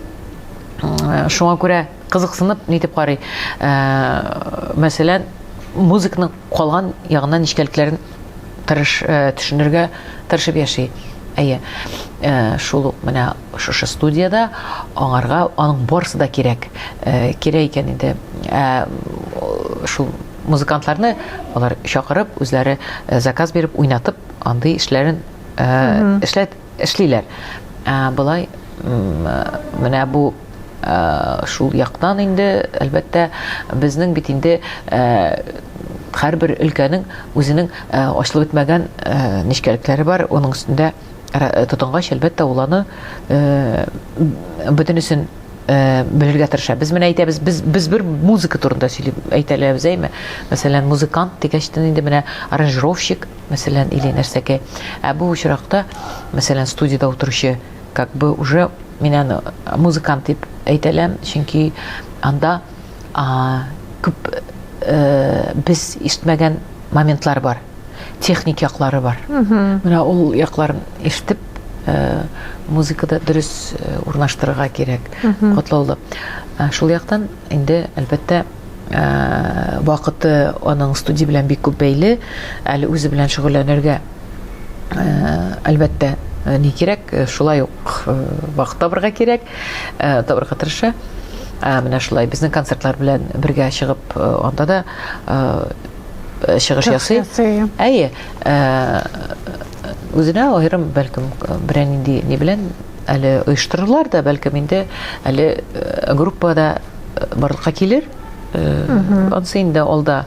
шуңа күрә кызыксынып нитеп карый мәсәлән музыканың Калган ягына нечкәлекләрен тырыш төшенергә тырышып яши. Әйе, шул ук менә шушы студиядә аңарга аның барысы да кирәк. Кирәк икән инде. Шул музыкантларны алар чакырып, үзләре заказ биреп, уйнатып, андый эшләрен эшләт Эшлиләр. Ә болай менә бу шул яктан инде, әлбәттә, безнең бит инде һәрбер өлкәнең үзенең ачылып бетмәгән нечкәлекләре бар, аның өстендә тотынгач, әлбәттә, ул аны бөтенесен белергә тырыша. Без менә әйтәбез, без без бер музыка турында сөйлибез, әйтәләбез, әйме? Мәсәлән, музыкант дигәчтен инде менә аранжировщик, мәсәлән, или нәрсәкәй. Ә бу очракта, мәсәлән, студиядә утыручы, как бы уже мин аны музыкант дип әйтәләм, чөнки анда күп э, без ишетмәгән моментлар бар, техник яклары бар. Менә ул якларын ишетеп, э, музыкада дөрес э, урнаштырырга кирәк, катлаулы. Шул яктан инде, әлбәттә, вакыты аның студия белән бик күп бәйле. Әле үзе белән шөгыльләнергә, әлбәттә, ни кирәк, шулай ук вакыт табырга кирәк, табырга тырыша. Менә шулай безнең концертлар белән бергә чыгып, анда да чыгыш ясый. Әйе. Үзенә аерым, бәлкем, берәр нинди ни белән әле оештырырлар да, бәлкем инде әле группада барлыкка килер. Ансы инде алда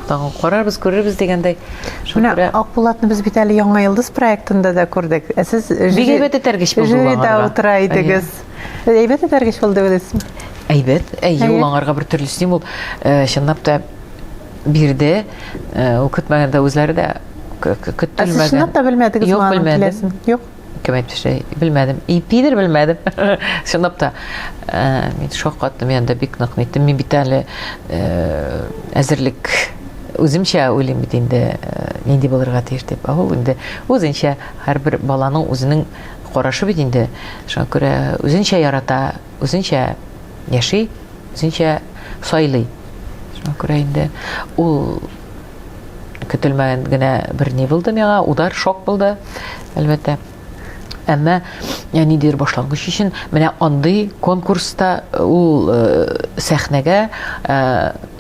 тагын карарбыз, күрербез дигәндәй. Менә Акбулатны без бит әле Яңа йолдыз проектында да күрдек. Ә сез бик әйбәт этәргеч булды. Жюрида утыра идегез. Әйбәт этәргеч булды беләсезме? Әйбәт. Әйе, ул аңарга бер төрле стимул. Э, чынлап та бирде. Э, ул көтмәгәндә үзләре дә көтелмәгән. Ә сез чынлап та белмәдегез, маңа киләсен? Юк. кем әйтмешли белмәдем ипидер белмәдем чынлап та э, мин шаккаттым мен анда бик нык ниттем мин бит әле э, әзерлек үземчә уйлыйм бит инде э, нинди булырга тиеш дип ә ул инде үзенчә һәрбер баланың үзенең карашы бит инде шуңа күрә үзенчә ярата үзенчә яши үзенчә сайлый шуңа күрә инде ул көтелмәгән генә бер ни булды миңа, удар, шок булды, әлбәттә. Әмма ә, ниндидер башлангыч өчен менә андый конкурста э, ул э, сәхнәгә э,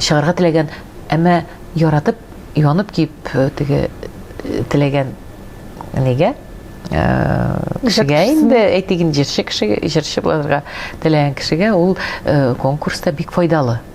чыгарга теләгән, әмма яратып, янып киеп э, теге э, теләгән нигә э, кешегә инде әйтик инде җырчы кешегә җырчы булырга теләгән кешегә ул э, конкурста бик файдалы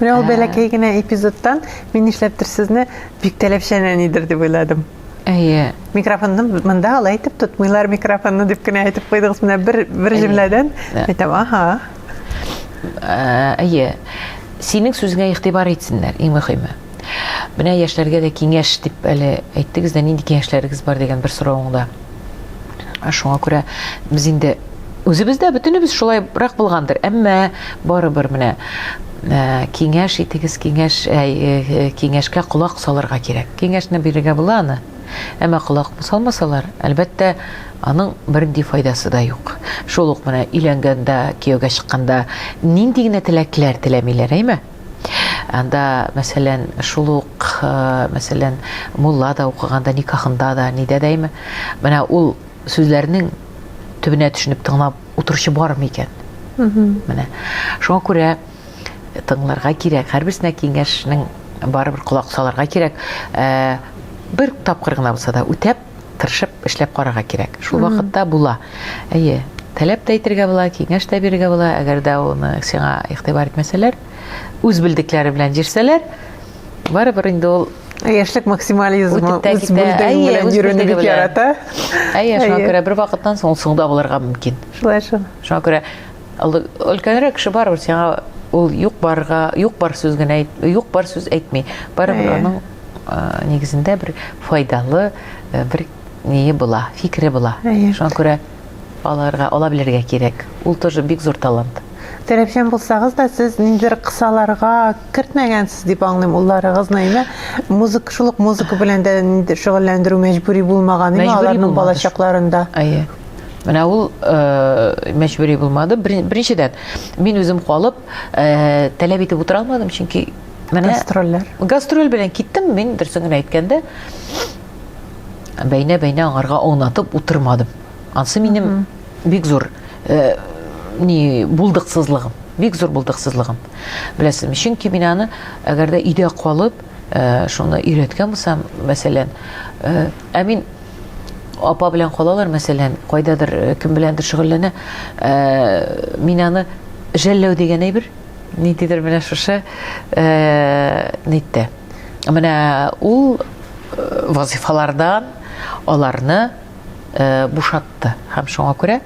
Менә ул бәләкәй генә эпизодтан мин нишләптер сезне бик таләпчән әнидер дип уйладым. Әйе. Микрофонны монда алай итеп тотмыйлар микрофонны дип кенә әйтеп куйдыгыз. Менә бер бер җөмләдән әйтәм, аһа. Әйе. Синең сүзеңә игътибар итсеннәр, иң мөһиме. Менә яшьләргә дә киңәш дип әле әйттегез дә, нинди киңәшләрегез бар дигән бер соравыңда. Шуңа күрә без инде үзебездә бөтенебез шулайрак булгандыр, әмма барыбер менә киңәш итегез, киңәш киңәшкә колак салырга кирәк. Киңәшне бирергә була аны. Әмма колак салмасалар, әлбәттә, аның бернинди файдасы да юк. Шул ук менә өйләнгәндә, кияүгә чыкканда нинди генә теләкләр теләмиләр, әйме? Анда, мәсәлән, шул ук, мәсәлән, мулла да укыганда, никахында да, нидә дә име, менә ул сүзләрнең төбенә төшенеп тыңлап утыручы бармы икән? Менә. Шуңа күрә тыңларга кирәк. Һәрберсенә киңәшнең барыбер колак салырга кирәк. Бер тапкыр гына булса да үтәп тырышып эшләп карарга кирәк. Шул вакытта була. Әйе, таләп тә әйтергә була, киңәш тә бирергә була, әгәр дә аны сиңа игътибар итмәсәләр, үз белдекләре белән җирсәләр, барыбер инде ул Яшьлек максимализмы үтеп тә үз китә. белдең Әйе, белән үз йөрүне белдеге бик белән. ярата. Әйе, шуңа Әйе. күрә бер вакыттан соң ул соңда булырга мөмкин. Шулай шул. Шуңа күрә Өлкәнрәк кеше барыбер сиңа ул юк барга, юк бар сүз генә әйт, юк бар сүз әйтми. Барыбер э. аның э, нигезендә бер файдалы э, бер ние була, фикере була. Э. Шуңа күрә аларга ала белергә кирәк. Ул тоже бик зур талант. Терәпчән булсагыз да, сез ниндидер кысаларга кертмәгәнсез дип аңлыйм улларыгызны, әйме? Музыка, шул ук музыка белән дә шөгыльләндерү мәҗбүри булмаган, әйме, аларның балачакларында. Әйе. Менә ул э, мәҗбүри булмады. Беренчедән, мин үзем калып, э, таләп итеп утыра алмадым, чөнки менә гастрольләр. Гастроль белән киттем, мин дөресен генә әйткәндә, бәйнә-бәйнә аңарга аунатып утырмадым. Ансы минем бик зур э, ни булдыксызлыгым, бик зур булдыксызлыгым. Беләсезме? Чөнки мин аны әгәр дә өйдә калып, э, шуны өйрәткән булсам, мәсәлән, э, ә мин апа белән калалар, мәсәлән, кайдадыр э, кем беләндер шөгыльләнә, э, мин аны жәлләү дигән әйбер, ниндидер менә шушы э, нитте. Менә ул вазифалардан аларны бушатты һәм шуңа күрә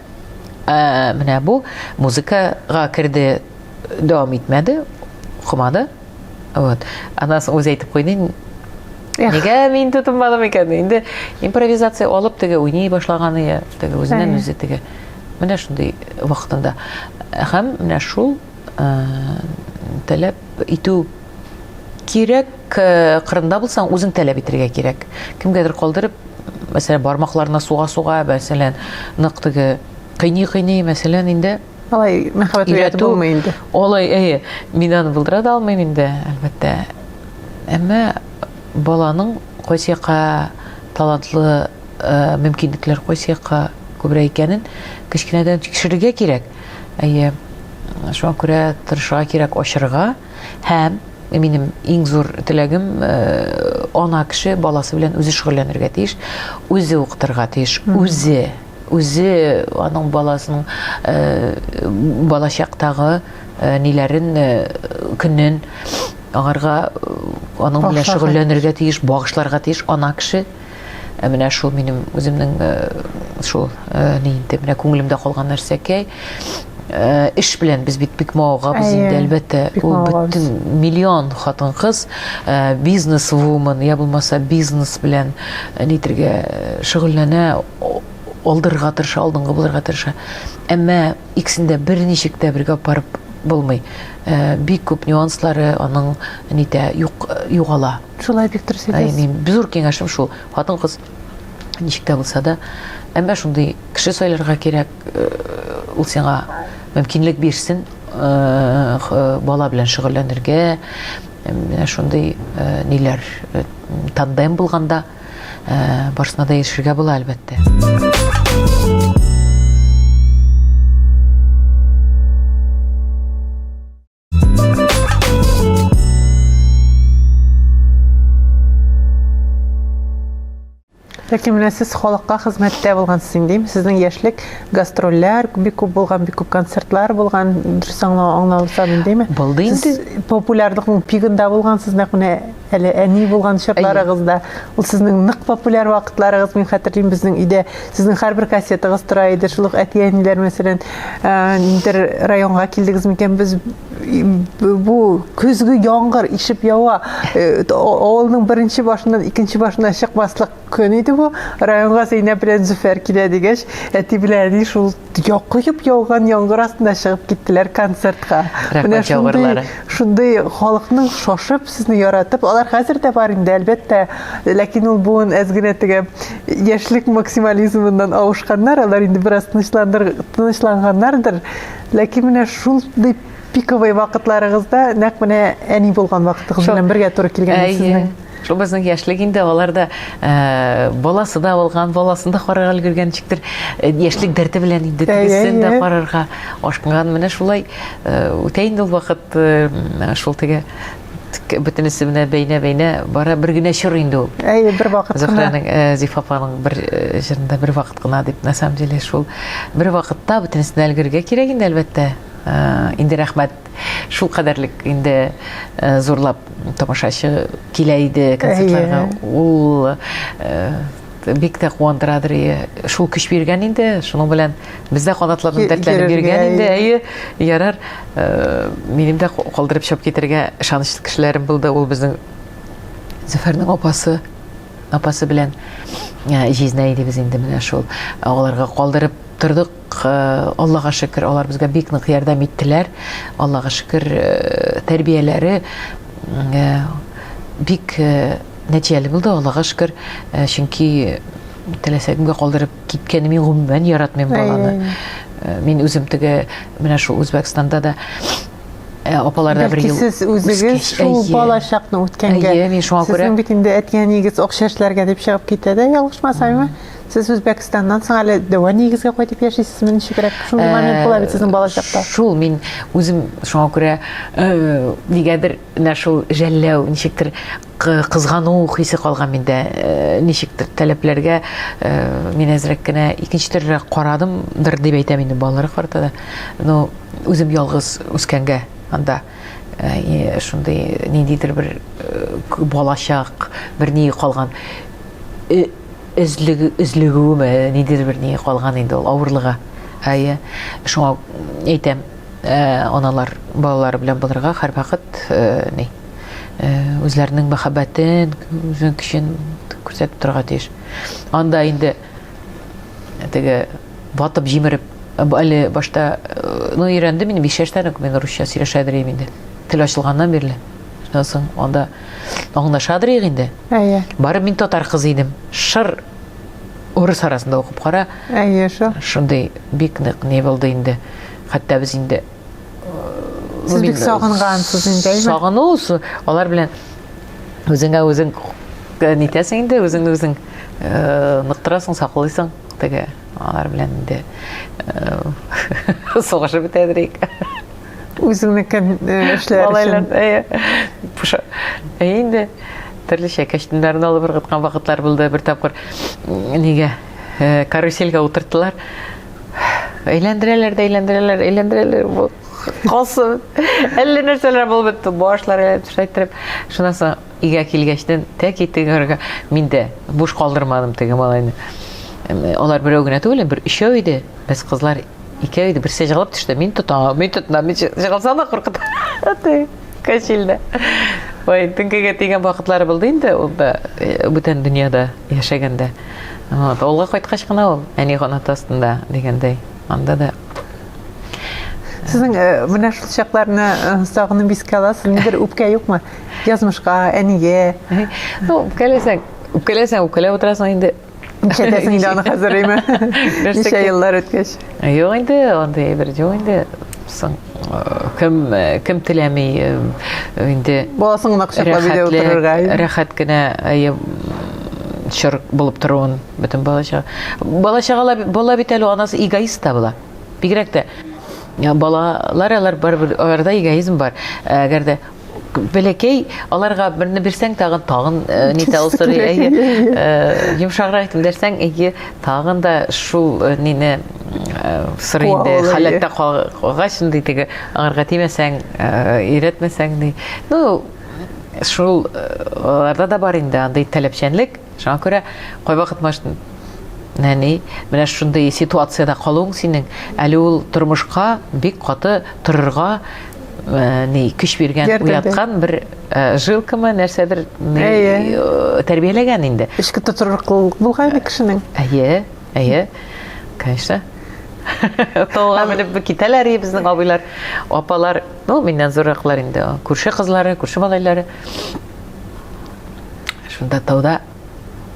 менә бу музыкага керде дәвам итмәде, укымады. Вот. Аннан соң үзе әйтеп куйды, Нигә мин тотынмадым икән? Инде импровизация алып теге уйный башлаганы я, теге үзеннән үзе теге. Менә шундый вакытында. Һәм менә шул таләп итү кирәк, кырында булсаң, үзең таләп итәргә кирәк. Кемгәдер калдырып, мәсәлән, бармакларына суга-суга, мәсәлән, нык теге кыйни-кыйни, мәсәлән, инде Алай мәхәббәт уяту булмый инде. Алай, әйе, мин аны булдыра да алмыйм инде, әлбәттә. Әмма баланың кайсы якка талантлы э, мөмкинлекләр кайсы якка күбрәк икәнен кечкенәдән тикшерергә кирәк. Әйе, шуңа күрә тырышырга кирәк ачырга һәм минем иң зур теләгем э, ана кеше баласы белән үзе шөгыльләнергә тиеш, үзе укытырга тиеш, үзе үзе аның баласының балачактагы ниләрен көнен аңарга аның белән шөгыльләнергә тиеш багышларга тиеш ана кеше Ә менә шул минем үземнең э, шул э, ни инде менә күңелемдә калган нәрсәкәй э, эш белән без бит бик мавыгабыз инде әлбәттә ул бөтен миллион хатын кыз бизнес вумен я булмаса бизнес белән нитергә шөгыльләнә алдырырга тырыша, алдынгы булырга тырыша. Әмма икесен дә берничек тә бергә апарып булмый. Э, бик күп нюанслары аның нитә юк югала. Шулай бик дөрес әйтәсез. Мин зур киңәшем шул. Хатын кыз ничек тә булса да, әмма шундый кеше сайларга кирәк, э, ул сиңа мөмкинлек бирсен, э, бала белән шөгыльләнергә, шундый ниләр тандем булганда барысына да ирешергә була, әлбәттә. Ләкин менә сез халыкка хезмәттә булгансыз инде. Сезнең яшьлек гастрольләр бик күп булган, бик күп концертлар булган. Дөрес аңлау аңлаусам индеме? Булды инде. Популярлыкның пигында булгансыз, нәкъ менә Әле әни булган чакларыгыз да, ул сезнең нык популяр вакытларыгыз, мин хәтерлим, безнең өйдә сезнең һәрбер кассетагыз тора иде, шул ук әти-әниләр, мәсәлән, ә, ниндер районга килдегез микән, без бу көзге яңгыр ишеп ява, э, авылның беренче башыннан икенче башына чыкмаслык Көн иде бу, районга Зәйнәп белән Зөфәр килә дигәч, әти белән әни шул якыеп яуган яңгыр астында чыгып киттеләр концертка. Менә шундый, шундый халыкның шашып, сезне яратып, алар хәзер дә бар инде, әлбәттә, ләкин ул буын әз генә теге яшьлек максимализмыннан авышканнар, алар инде бераз тынычландыр, тынычланганнардыр, ләкин менә шундый пиковый вакытларыгызда нәкъ менә әни булган вакытыгыз белән бергә туры килгән сезнең. Шул безнең яшьлек инде, алар да э, баласы да алган, баласын да карарга өлгергән ничектер э, яшьлек дәрте белән инде Әйе, тегесен дә әйе. карарга ашкынган. Менә шулай э, үтә инде ул вакыт э, м, шул теге тк- бөтенесе менә бәйнә-бәйнә бара бер генә чор инде ул. Әйе, бер вакыт кына. Зөһрәнең, э, Зифа апаның бер э, җырында бер вакыт кына дип, на самом деле шул бер вакытта бөтенесенә өлгергә кирәк инде әлбәттә. Э, Инде рәхмәт Шул кадәрлек инде э, зурлап тамашачы килә иде концертларга. Ул э, бик тә куандырадыр и шул көч биргән инде шуның белән бездә канатларны дәртләнеп биргән инде әйе ярар э, минем дә калдырып чыгып китәргә ышанычлы кешеләрем булды ул безнең зөфәрнең апасы апасы белән җизнә идебез инде менә шул аларга калдырып тордык Аллага шөкер, алар безгә бик нык ярдәм иттеләр. Аллага шөкер, тәрбияләре бик нәтиҗәле булды, Аллага шөкер. Чөнки теләсә кемгә калдырып киткәнне мин гомумән яратмыйм баланы. Мин үзем теге менә шул Үзбәкстанда да апаларда бер ел. Сез үзегез шул балачакны үткәнгә. Әйе, мин шуңа күрә. Сезнең бит инде әти-әниегез акча эшләргә дип чыгып китә дә, ялгышмасаммы? Сез Үзбәкстаннан соң әле дәва нигезгә кайтып яшисезме? Ничегрәк? Шундый э, момент була бит сезнең балачакта. Шул мин үзем шуңа күрә э, нигәдер менә шул жәлләү, ничектер кызгану хисе калган миндә. Э, ничектер таләпләргә мин әзрәк кенә икенче төрлерәк карадымдыр дип әйтәм инде балалар карта да. Но үзем ялгыз үскәнгә анда Э, шундый ниндидер бер э, балачак бер ни калган э, өзлегүеме ниндидер бер ни калган инде ул авырлыгы әйе шуңа әйтәм аналар балалары белән булырга һәрвакыт ни үзләренең мәхәббәтен үзенең көчен күрсәтеп торырга тиеш анда инде теге ватып җимереп әле башта ну өйрәндем мин биш яшьтән үк мин русча сөйләшә дирем инде тел ачылганнан бирле шуннан соң анда аңлаша дирек инде әйе барып мин татар кызы идем шыр урыс арасында укып кара әйе шул шундый бик нык не булды инде хәтта без инде Сез бик сагынгансыз инде, әйме? Сагыну, алар белән үзеңә үзең э, нитәсең инде, үзеңне үзең э, ныктырасың, саклыйсың теге алар белән инде э, сугышып бетәдерик. Үзеңнеке эшләр өчен. Алайлар, инде төрлечә кәчтүмнәрне алып ыргыткан вакытлар булды бер тапкыр. Нигә? Карусельгә утырттылар. Әйләндерәләр дә әйләндерәләр, әйләндерәләр. Бу калсын. Әллә нәрсәләр булып бетте. Башлар әйләнеп шайтырып. Шуннан соң өйгә килгәчтен тәки тегергә мин дә буш калдырмадым теге малайны. Алар берәү генә түгел, бер өчәү иде. Без кызлар икәү иде. Берсе җыгылып төште. Мин тотам, мин тотам. Мин җыгылсам да куркытам. Аты Качилдә. Ой, теңкегә тигән вакытлары булды инде ул да э, бүтән дөньяда. яшәгәндә. Вот, авылга кайткач кына ул әни канаты астында дигәндәй. Анда да Сезнең э, менә шул чакларны э, сагынып искә аласыз, нидер үпкә юкмы? Язмышка, әнигә. Ну, үпкәләсәң, үпкәләсәң, үпкәләп утырасың инде. Ничәдәсең инде аны хәзер, әйме? Ничә еллар үткәч? Юк инде, андый әйбер юк инде. Соң кем кем теләми инде баласын гына кочаклап өйдә утырырга рәхәт кенә чор булып торуын бөтен бала чага бала чагала бала бит әле анасы эгоист та була бигрәк тә балалар алар барыбер аларда эгоизм бар әгәр дә бәләкәй аларга берне бирсәң тагын тагын э, нитә ул сорый әйе э, йомшаграк итеп дәрсәң әйе тагын да шул э, нине сорый инде халәттә калгач инде теге аңарга тимәсәң өйрәтмәсәң ди ну шул аларда да бар инде андый таләпчәнлек шуңа күрә кайвакыт может нәни менә шундый ситуациядә калуың синең әле ул тормышка бик каты торырга Э, ни көч биргән уяткан бер э, жилкамы нәрсәдер э, тәрбияләгән инде эчке тотрыклылык булган инде кешенең әйе әйе конечно тауга менеп китәләр и безнең абыйлар апалар ну миннән зурраклар инде күрше кызлары күрше малайлары шунда тауда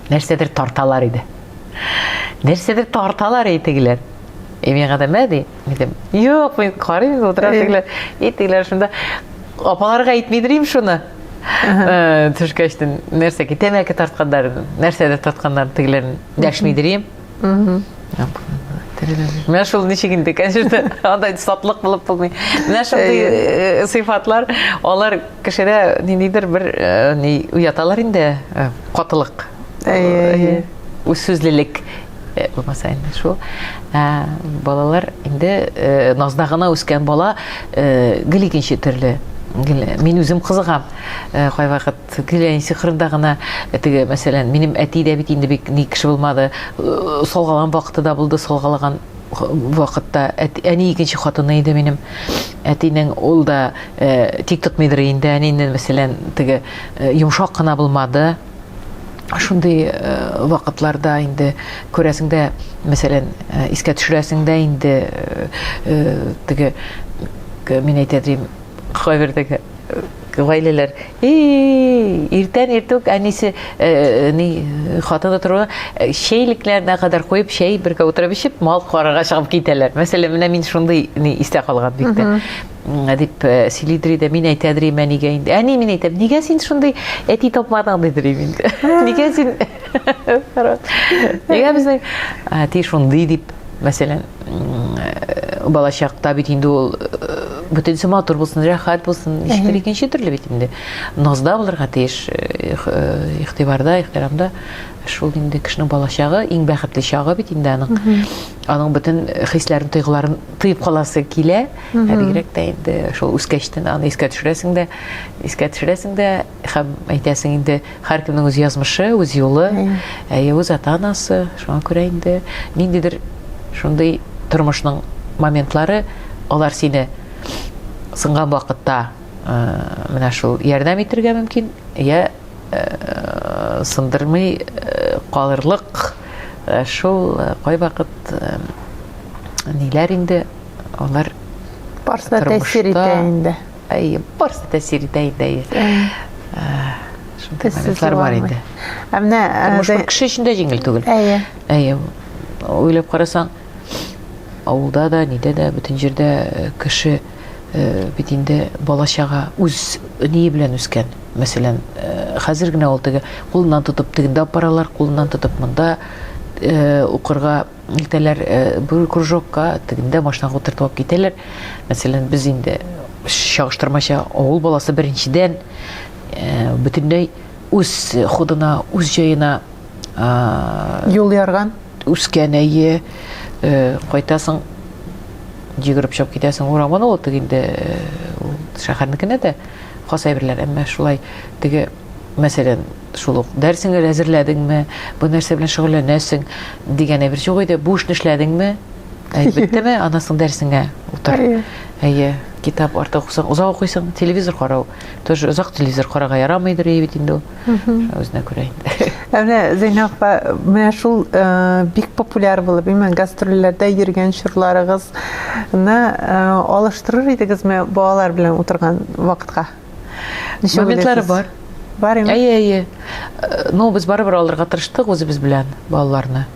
нәрсәдер тарталар иде нәрсәдер тарталар и тегеләр и миңа да мә ди Дидем. Юк, мин карыйм, утырам тегеләр. И тегеләр шунда апаларга әйтмидер им шуны. Э, Төшкәчтен нәрсә ки тәмәке тартканнар, нәрсәдер тартканнар тегеләр дәшмидер им. Менә шул ничек инде, конечно, андай сатлык булып булмый. Менә шундый э, сыйфатлар, алар кешедә ниндидер бер э, ни уяталар инде, э, катылык. Әйе, әйе. Э, Үзсүзлелек. Э, булмаса инде шул ә, балалар инде ә, назда гына үскән бала ә, гел икенче төрле мин үзем кызыгам ә, кайвакыт гел әни сихырында гына теге мәсәлән минем әти дә бит инде бик ни кеше булмады салгалан вакыты да булды салгалаган вакытта әни икенче хатыны иде минем әтинең ул да ә, тик тотмыйдыр инде әнинен мәсәлән теге ә, йомшак кына булмады Шундый э, вакытларда инде күрәсеңдә, мәсәлән, э, искә төшерәсеңдә инде э, теге мин әйтә дим, кайбердәге гаиләләр иртән иртүк әнисе ни хатыны торуы чәйлекләренә кадәр куеп чәй бергә утырып эчеп мал карарга чыгып китәләр мәсәлән менә мин шундый ни истә калган бик тә дип сөйли дери дә мин әйтә дирим әнигә инде әни мин әйтәм нигә син шундый әти тапмадың ди дирим инде нигә син нигә безнең әти шундый дип мәсәлән балачакта бит инде ул бөтенесе матур булсын рәхәт булсын ничектер икенче төрле бит инде назда булырга тиеш игътибарда ихтирамда шул инде кешенең балачагы иң бәхетле чагы бит инде аның аның бөтен хисләрен тойгыларын тоеп каласы килә Ә бигрәк тә инде шул үскәч тен аны искә төшерәсең дә, искә төшерәсең дә һәм әйтәсең инде һәркемнең үз язмышы, үз юлы, әйе, үз ата-анасы. Шуңа күрә инде ниндидер шундый тормышның моментлары алар сине сынган вакытта э, менә шул ярдәм итергә мөмкин, я э, сындырмый э, калырлык шул кайвакыт ниләр инде алар барысы да тәэсир итә инде әйе барысы да тәэсир итә инде әйе шундый моментлар бар инде ә менә тормыш бер кеше өчен дә җиңел түгел әйе әйе уйлап карасаң авылда да нидә дә бөтен җирдә кеше бит инде бала чага үз ние белән үскән мәсәлән хәзер генә ул теге кулыннан тотып тегендә апаралар кулыннан тотып монда укырга илтәләр э, бер кружокка тегендә машинаға утыртып алып китәләр мәсәлән без инде чагыштырмача авыл баласы беренчедән э, бөтенләй үз ходына үз җаена юл ярган үскән әйе э, кайтасың йөгереп чыгып китәсең урамына ул теге инде шәһәрнекенә дә хас әйберләр әмма шулай теге мәсәлән, шул ук дәресеңне әзерләдеңме, бу нәрсә белән шөгыльләнәсең дигән әйбер юк иде. Бу эшне эшләдеңме? Әлбәттәме, аннан соң дәресеңә утыр. Әйе, китап артык укысаң, озак укыйсың, телевизор карау. Тоже озак телевизор карарга ярамыйдыр ие бит инде ул. Үзенә күрә инде. Ә менә Зәйнә апа, менә шул э, бик популяр булып, именно гастрольләрдә йөргән чорларыгызны э, алыштырыр идегезме балалар белән утырган вакытка? Ничә моментлары бар. Бар инде. Әйе, әйе. Э, ну, без барыбер алырга тырыштык үзебез белән балаларны.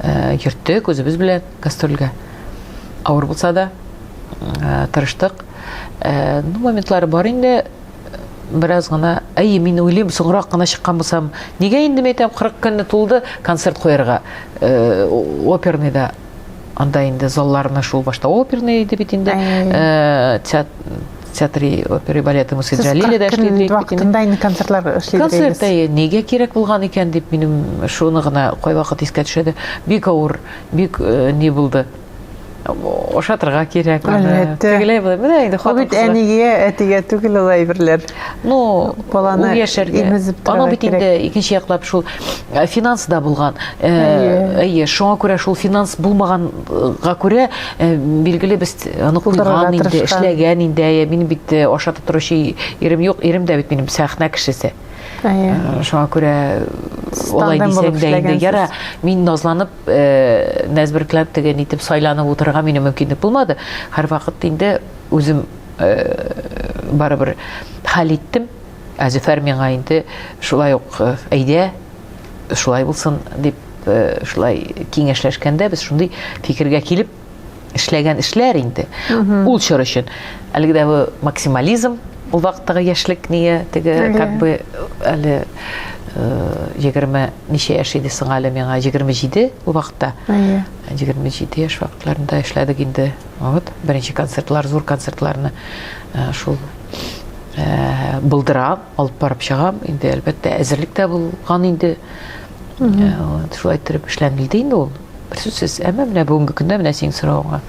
Э, йөрттек үзебез белән гастрольгә. Авыр булса да э, тырыштык. Ну, моментлары бар инде. Бераз гына, әйе, мин уйлыйм, соңрак кына чыккан булсам, нигә инде мәйтәм 40 көнне тулды концерт куярга? Оперныйда Анда инде залларны шул башта оперный иде бит инде. Э, театры оперы балеты мы сыграли или дошли до Екатерины. Вакытында инде концертлар эшли Концерт әйе, нигә кирәк булган икән дип минем шуны гына кайвакыт искә төшәде. Бик авыр, бик э, не булды. Ошатырга кирәк. Әлбәттә. Тегеләй булды. Менә инде хатын. Бит әнигә, әтигә түгел ул әйберләр. ну баланы ул яшәргә аның бит инде икенче яклап шул э, финанс да булган э, әйе шуңа күрә шул финанс булмаганга күрә э, билгеле без аны куйган инде эшләгән инде әйе минем бит ашатып торучы ирем юк ирем дә бит минем сәхнә кешесе шуңа күрә олай дисәң дә инде яра мин назланып нәзберкләп теген итеп сайланып утырырга минем мөмкинлек булмады һәрвакыт инде үзем э, барыбер хәл иттем. Ә Зөфәр миңа инде шулай ук э, әйдә, шулай булсын дип э, шулай киңәшләшкәндә без шундый фикергә килеп эшләгән эшләр инде. Ул чор өчен әлеге дә максимализм, ул вакыттагы яшьлек ние теге как бы әле егерме ничә яшь иде соң әле миңа егерме җиде ул вакытта егерме җиде яшь вакытларында эшләдек инде Вот, беренче концертлар, зур концертларны шул булдырам, алып барып чыгам. Инде, әлбәттә, әзерлек тә булган инде. Вот, шулай торып эшләнелде инде ул. Бер сүзсез, әмма менә бүгенге көндә менә синең соравыңа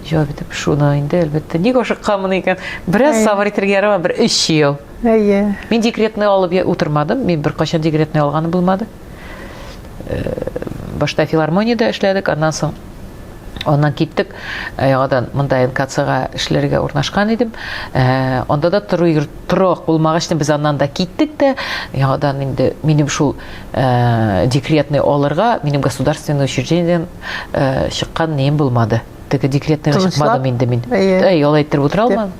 җавап итеп, шуны инде, әлбәттә, ник ашыкканмын икән? Бераз сабыр итәргә ярамы, бер өч ел. Әйе. Мин декретный алып утырмадым, мин беркайчан декретный алганым булмады. э, башта филармониядә эшләдек, аннан соң Аннан киттек, э, яңадан монда НКЦга эшләргә урнашкан идем. Э, анда да тору йорт торак булмагач, без аннан да киттек тә, яңадан инде минем шул э, декретный алырга, минем государственный учреждениедән чыккан неем булмады. Теге декретный чыкмадым инде мин. Әй, алай итеп утыра алмадым.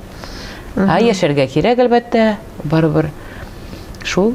Ә яшәргә кирәк, әлбәттә, барыбер. Шул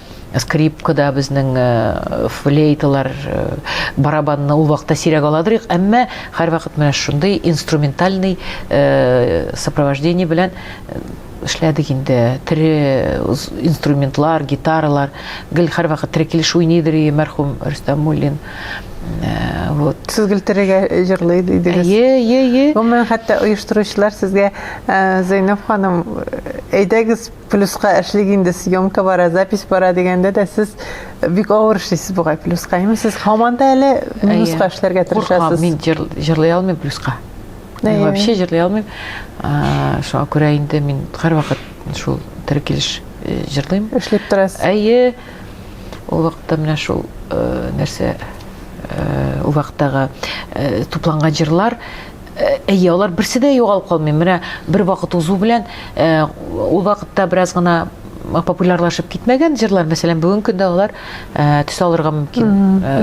скрипкада безнең э, флейталар э, барабанны ул вакытта сирәк аладырык әмма һәрвакыт менә шундый инструментальный э, сопровождение белән эшләдек инде тере инструментлар гитаралар гел һәрвакыт тере килеш уйныйдыр и мәрхүм рөстәм муллин вот сез гел терегә җырлый дидегез әйе әйе әйе гомумән хәтта оештыручылар сезгә зәйнәб ханым әйдәгез Плюска эшлик инде, съемка бара, запись бара дигәндә дә сез бик авыр эшлисез бугай плюска. Әйме, сез һаман да әле минуска эшләргә тырышасыз. Мин җырлый алмыйм плюска. Мин вообще җырлый алмыйм. Шуңа күрә инде мин һәрвакыт шул тере килеш э, җырлыйм. Эшләп торасыз. Әйе. Ул вакытта менә шул э, нәрсә э, ул вакыттагы тупланган җырлар Әйе, алар берсе дә югалып калмый. Менә бер вакыт узу белән, ул вакытта бераз гына популярлашып китмәгән җырлар, мәсәлән, бүгенге көндә алар төс алырга мөмкин.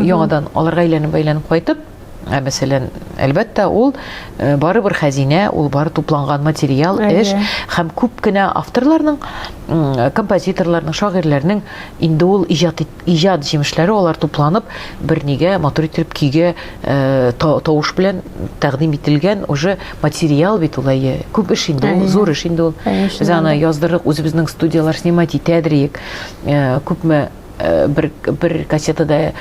Яңадан аларга әйләнеп-әйләнеп кайтып, Ә мәсәлән, әлбәттә, ул э, бары бер хәзинә, ул бары тупланган материал, эш һәм күп кенә авторларның, композиторларның, шагыйрьләрнең инде ул иҗат иҗат җимешләре алар тупланып бернигә матур итеп көйгә э, тавыш белән тәкъдим ителгән уже материал бит ул әйе күп эш инде ул зур эш инде ул без аны яздырдык үзебезнең студияләр снимать итәдер иек э, күпме э, бер бер кассетада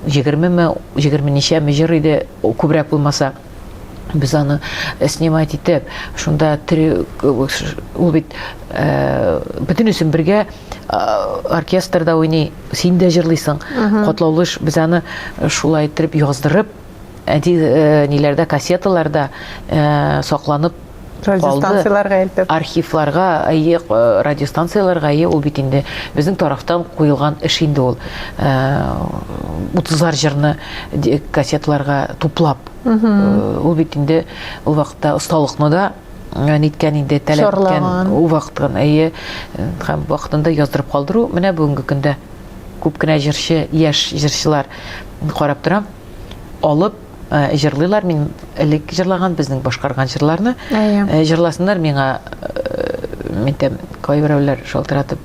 егермеме егерме ничәме җыр иде күбрәк булмаса без аны э, снимать итеп шунда три ул бит э, бөтенесен бергә оркестрда уйный син дә җырлыйсың котлаулы эш без аны э, шулай итеп яздырып әти ниләрдә кассеталарда сакланып радиостанцияләргә илтеп архивларга әйе э, радиостанцияләргә әйе ул бит инде безнең тарафтан куелган эш инде ул э, утызлар җырны кассеталарга туплап э, ул бит инде ул вакытта осталыкны да ниткән инде таләп иткән ул вакыттан әйе һәм вакытында яздырып калдыру менә бүгенге көндә күп кенә җырчы яшь җырчылар карап торам алып җырлыйлар мин элек җырлаган безнең башкарган җырларны җырласыннар миңа әйтәм кайберәүләр шалтыратып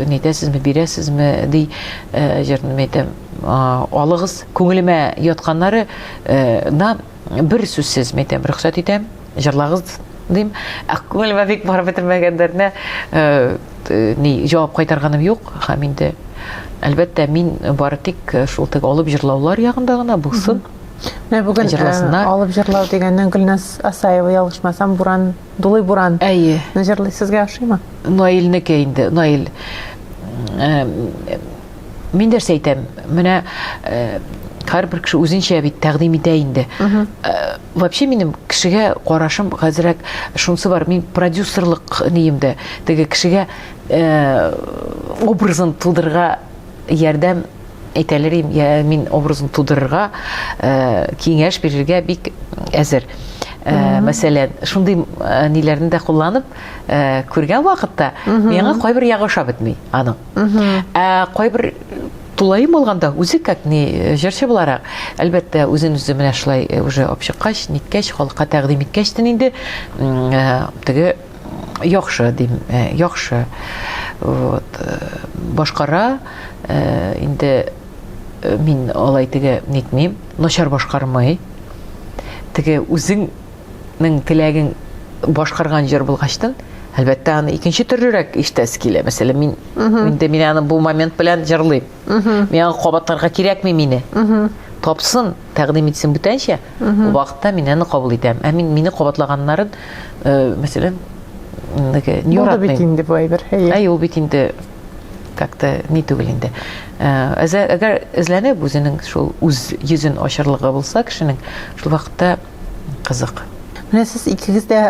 нитәсезме бирәсезме ди җырны әйтәм алыгыз күңелемә ятканнары на бер сүзсез әйтәм рөхсәт итәм җырлагыз дим. Ә күңелемә бик барып бетермәгәннәренә ни җавап кайтарганым юк. Һәм инде әлбәттә мин бары тик шул теге алып җырлаулар ягында гына булсын. Менә бүген җырласыннар. Алып җырлау дигәннән Гөлназ Асаева ялгышмасам буран, дулый буран. Әйе. Җырлый сезгә ошыймы? Наилнеке инде. Наил мин нәрсә әйтәм менә һәрбер кеше үзенчә бит тәкъдим итә инде вообще минем кешегә карашым хәзерәк шунысы бар мин продюсерлык нием дә теге кешегә образын тудырырга ярдәм әйтәлер мин образын тудырырга киңәш бирергә бик әзер Э, мәсәлән шундый э, ниләрне дә кулланып э, күргән вакытта миңа кайбер ягы ошап бетми аның Ә кайбер тулаем алганда үзе как ни э, җырчы буларак, әлбәттә, үзен үзе менә шулай э, уже алып чыккач, ниткәч, халыкка тәкъдим иткәч тен инде э, теге яхшы дим, яхшы. Вот. Башкара инде мин алай теге нитмим, начар башкармый. Теге үзең Ның теләген башкарган җыр булгачтын, әлбәттә, аны икенче төрлерәк ишетәсе килә. Мәсәлән, мин инде мин аны бу момент белән җырлыйм. Мин аны кабатларга кирәкми мине. Тапсын, тәкъдим итсен бүтәнчә. Бу вакытта мин аны кабул итәм. Ә мин мине кабатлаганнарын, э, мәсәлән, инде Булды бит инде бу әйбер. Әй, ул бит инде как-то ни түгел инде. Э, әгәр эзләнеп үзенең шул үз йөзен ачарлыгы булса кешенең, шул вакытта кызык. Менә сез икегез дә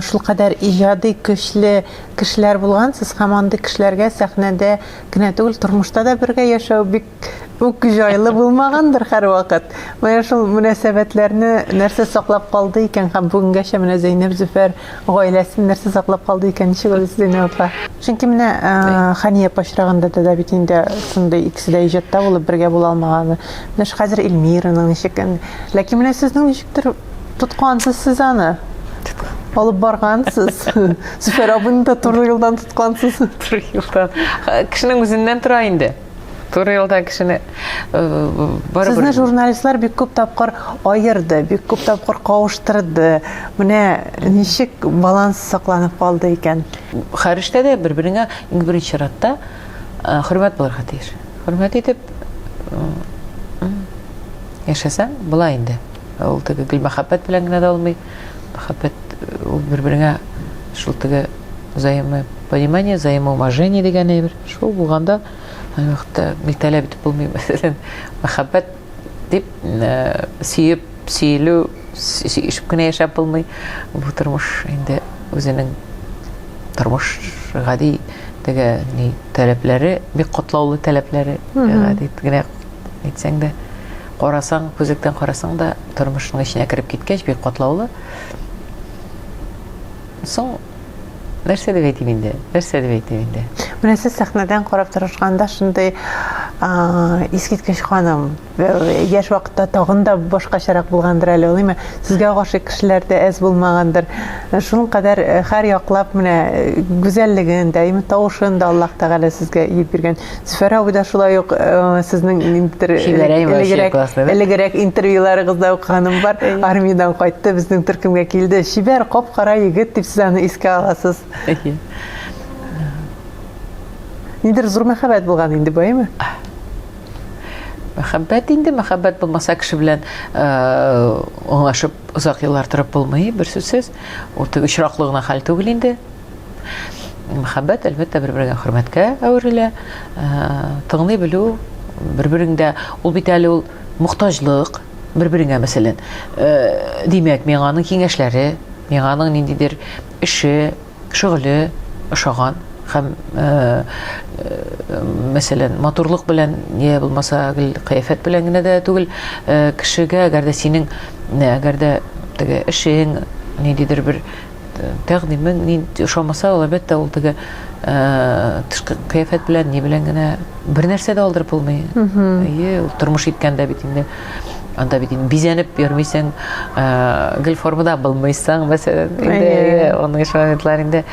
шулкадәр иҗади көчле кешеләр булгансыз һәм андый кешеләргә сәхнәдә генә түгел, тормышта да бергә яшәү бик үк җайлы булмагандыр һәрвакыт. Менә шул мөнәсәбәтләрне нәрсә саклап калды икән һәм бүгенгәчә менә Зәйнәб Зөфәр Гаиләсен нәрсә саклап калды икән, ничек үлде Зәйнәб апа? Чөнки менә Хания апа очрагында да да бит инде шундый икесе дә иҗатта булып бергә була алмаганы. Менә ш хәзер Эльмираның ничек ин. Ләкин менә сезнең ничектер тоткансыз сез аны. Алып баргансыз. Зөфәр абыйны да туры юлдан тоткансыз. Туры юлдан. Кешенең үзеннән тора инде. Туры юлдан кешене барыбер. Сезне журналистлар бик күп тапкыр аерды, бик күп тапкыр кавыштырды. Менә ничек баланс сакланып калды икән? Хәрештә дә бер-береңә иң беренче чиратта хөрмәт булырга тиеш. Хөрмәт итеп яшәсәң, була инде. Ул теге гел мәхәббәт белән генә дә булмый. Мәхәббәт ул бер-береңә шул теге взаимопонимание, взаимоуважение дигән әйбер. Шул булганда, ай вакытта бит таләп итеп булмый, мәсәлән, мәхәббәт дип сөеп, сөелү, сөешеп кенә яшәп булмый. Бу тормыш инде үзенең тормыш гади теге ни таләпләре, бик котлаулы таләпләре, гади генә әйтсәң дә, карасаң, күзлектән карасаң да тормышның эченә кереп киткәч бик котлаулы. Соң Нәрсә дип әйтим инде? Нәрсә дип әйтим инде? Менә сез сәхнәдән карап торышканда шундый искиткеч ханым. Яшь вакытта тагын да башкачарак булгандыр әле, улыймы? Сезгә гашыйк кешеләр дә әз булмагандыр. Шул кадәр һәр яклап менә гүзәллеген дә, именно тавышын да Аллаһ Тәгалә сезгә иеп биргән. Зөфәр абый да шулай ук э, сезнең ниндидер э, элегрәк элегрәк интервьюларыгызда укыганым бар. Армиядән кайтты, безнең төркемгә килде. Шибәр, кап-кара егет дип сез аны искә аласыз. Нидер зур мәхәббәт булган инде, баймы? Мәхәббәт инде, мәхәббәт булмаса кеше белән э, аңлашып озак еллар торып булмый, бер сүзсез. Ул теге очраклы гына хәл түгел инде. Мәхәббәт, әлбәттә, бер-берегә хөрмәткә әверелә. Э, тыңлый белү, бер-береңдә ул бит әле ул мохтаҗлык бер-береңә, мәсәлән. Э, димәк, миңа аның киңәшләре, миңа аның ниндидер эше, шөгыле ошаган һәм э, мәсәлән, матурлык белән я булмаса гел кыяфәт белән генә дә түгел, кешегә, әгәр дә синең, әгәр дә теге эшең, ниндидер бер тәкъдимен ни ошамаса, ул әлбәттә ул теге тышкы кыяфәт белән ни белән генә бер нәрсә дә алдырып булмый. Әйе, ул тормыш иткәндә бит инде анда бит инде бизәнеп йөрмисең, гел формада булмыйсың, мәсәлән, инде аның өчен моментлар инде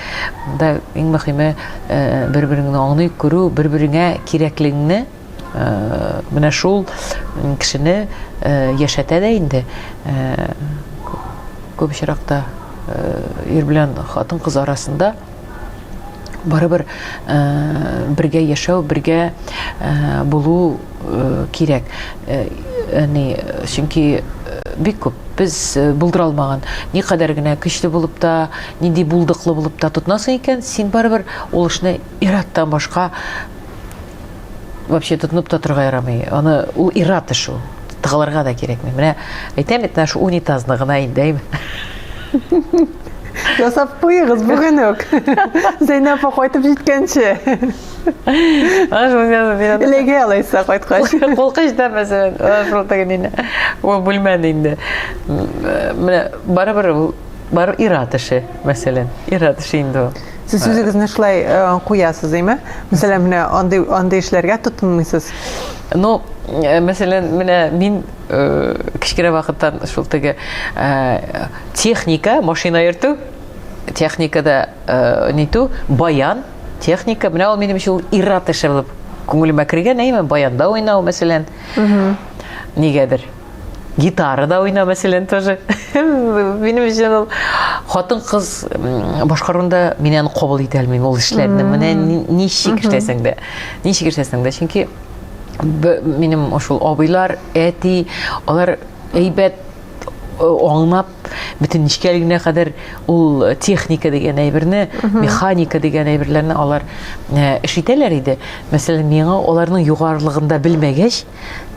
да иң мөһиме бер-береңне аңлый күрү, бер-береңә кирәклегеңне Менә шул кешене яшәтә дә инде күп очракта ир белән хатын кыз арасында барыбер бергә яшәү, бергә булу кирәк. Яни, чөнки бик күп без булдыра алмаган. Никадәр генә көчле булып та, нинди булдыклы булып та тотынасың икән, син барыбер ул эшне ир-аттан башка вообще тотынып та торга ярамый. Аны ул ират эш ул. Тыгылырга да кирәкми. Менә әйтәм бит, наш унитазны гына инде. Ясап куегыз бүген үк. Зәйнәп апа кайтып җиткәнче. Элеге алайса кайткач. Кулкыч да мәсәлән, шул тегин инде. Ул бүлмәне инде. Менә барыбер ул бар ират эше, мәсәлән. Ират эше инде ул. Сез э, үзегезне шулай э, куясыз, әйме? Мәсәлән, менә андый андый эшләргә тотынмыйсыз. Ну, э, мәсәлән, менә мин кечкенә вакыттан шул теге техника, машина йөртү, техникада нитү, баян, техника, менә ул минем өчен ират эше булып күңелемә кергән, әйме, баянда уйнау, мәсәлән. Нигәдер. гитара да уйна мәсәлән тоже минем өчен ул хатын кыз башкаруында мин аны кабул итә алмыйм ул эшләрне менә ничек эшләсәң дә ничек эшләсәң дә чөнки минем ошол абыйлар әти алар әйбәт Э, аңлап бөтен нечкәлегенә кадәр ул э, техника дигән әйберне механика дигән әйберләрне алар э, эш итәләр иде мәсәлән миңа аларның югарылыгында белмәгәч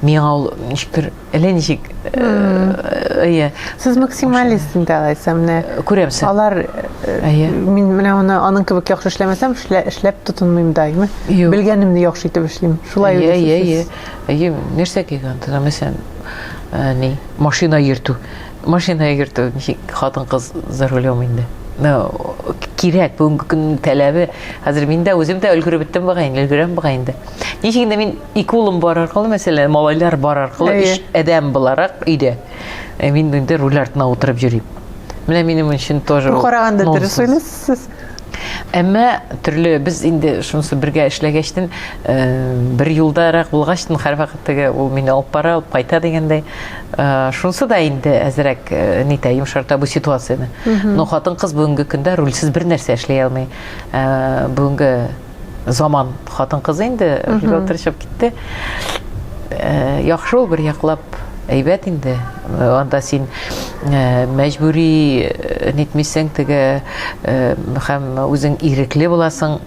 миңа ул ничектер әллә ничек әйе сез максималист инде алайса менә күрәмсең алар әйе мин менә аны аның кебек яхшы эшләмәсәм эшләп тотынмыйм даими белгәнемне яхшы итеп эшлим шулай әйе әйе әйе нәрсә килгән тора мәсәлән ни машина йөртү машина йөртү ничек хатын кыз за рулем инде кирәк бүгенге көннең таләбе хәзер мин дә үзем дә өлгереп беттем бугай инде өлгерәм бугай инде Ничек инде мин ике улым бар аркылы, мәсәлән, малайлар бар аркылы, өч адәм буларак өйдә. Э, мин инде руль артына утырып йөрим. Менә минем өчен тоже. Бу караганда дөрес уйлыйсыз. Әмма төрле без инде шунысы бергә эшләгәчтен э, бер юлдарак булгачтын һәрвакыт теге ул мине алып бара, алып кайта дигәндәй. Э, шунысы да инде әзрәк э, нитә йомшарта бу ситуацияне. Но хатын-кыз бүгенге көндә рульсез бер нәрсә эшли алмый. Бүгенге заман хатын кызы инде бергә утырышып китте э, яхшы ул бер яклап әйбәт инде анда син э, мәҗбүри э, нитмисең теге һәм үзең ирекле буласың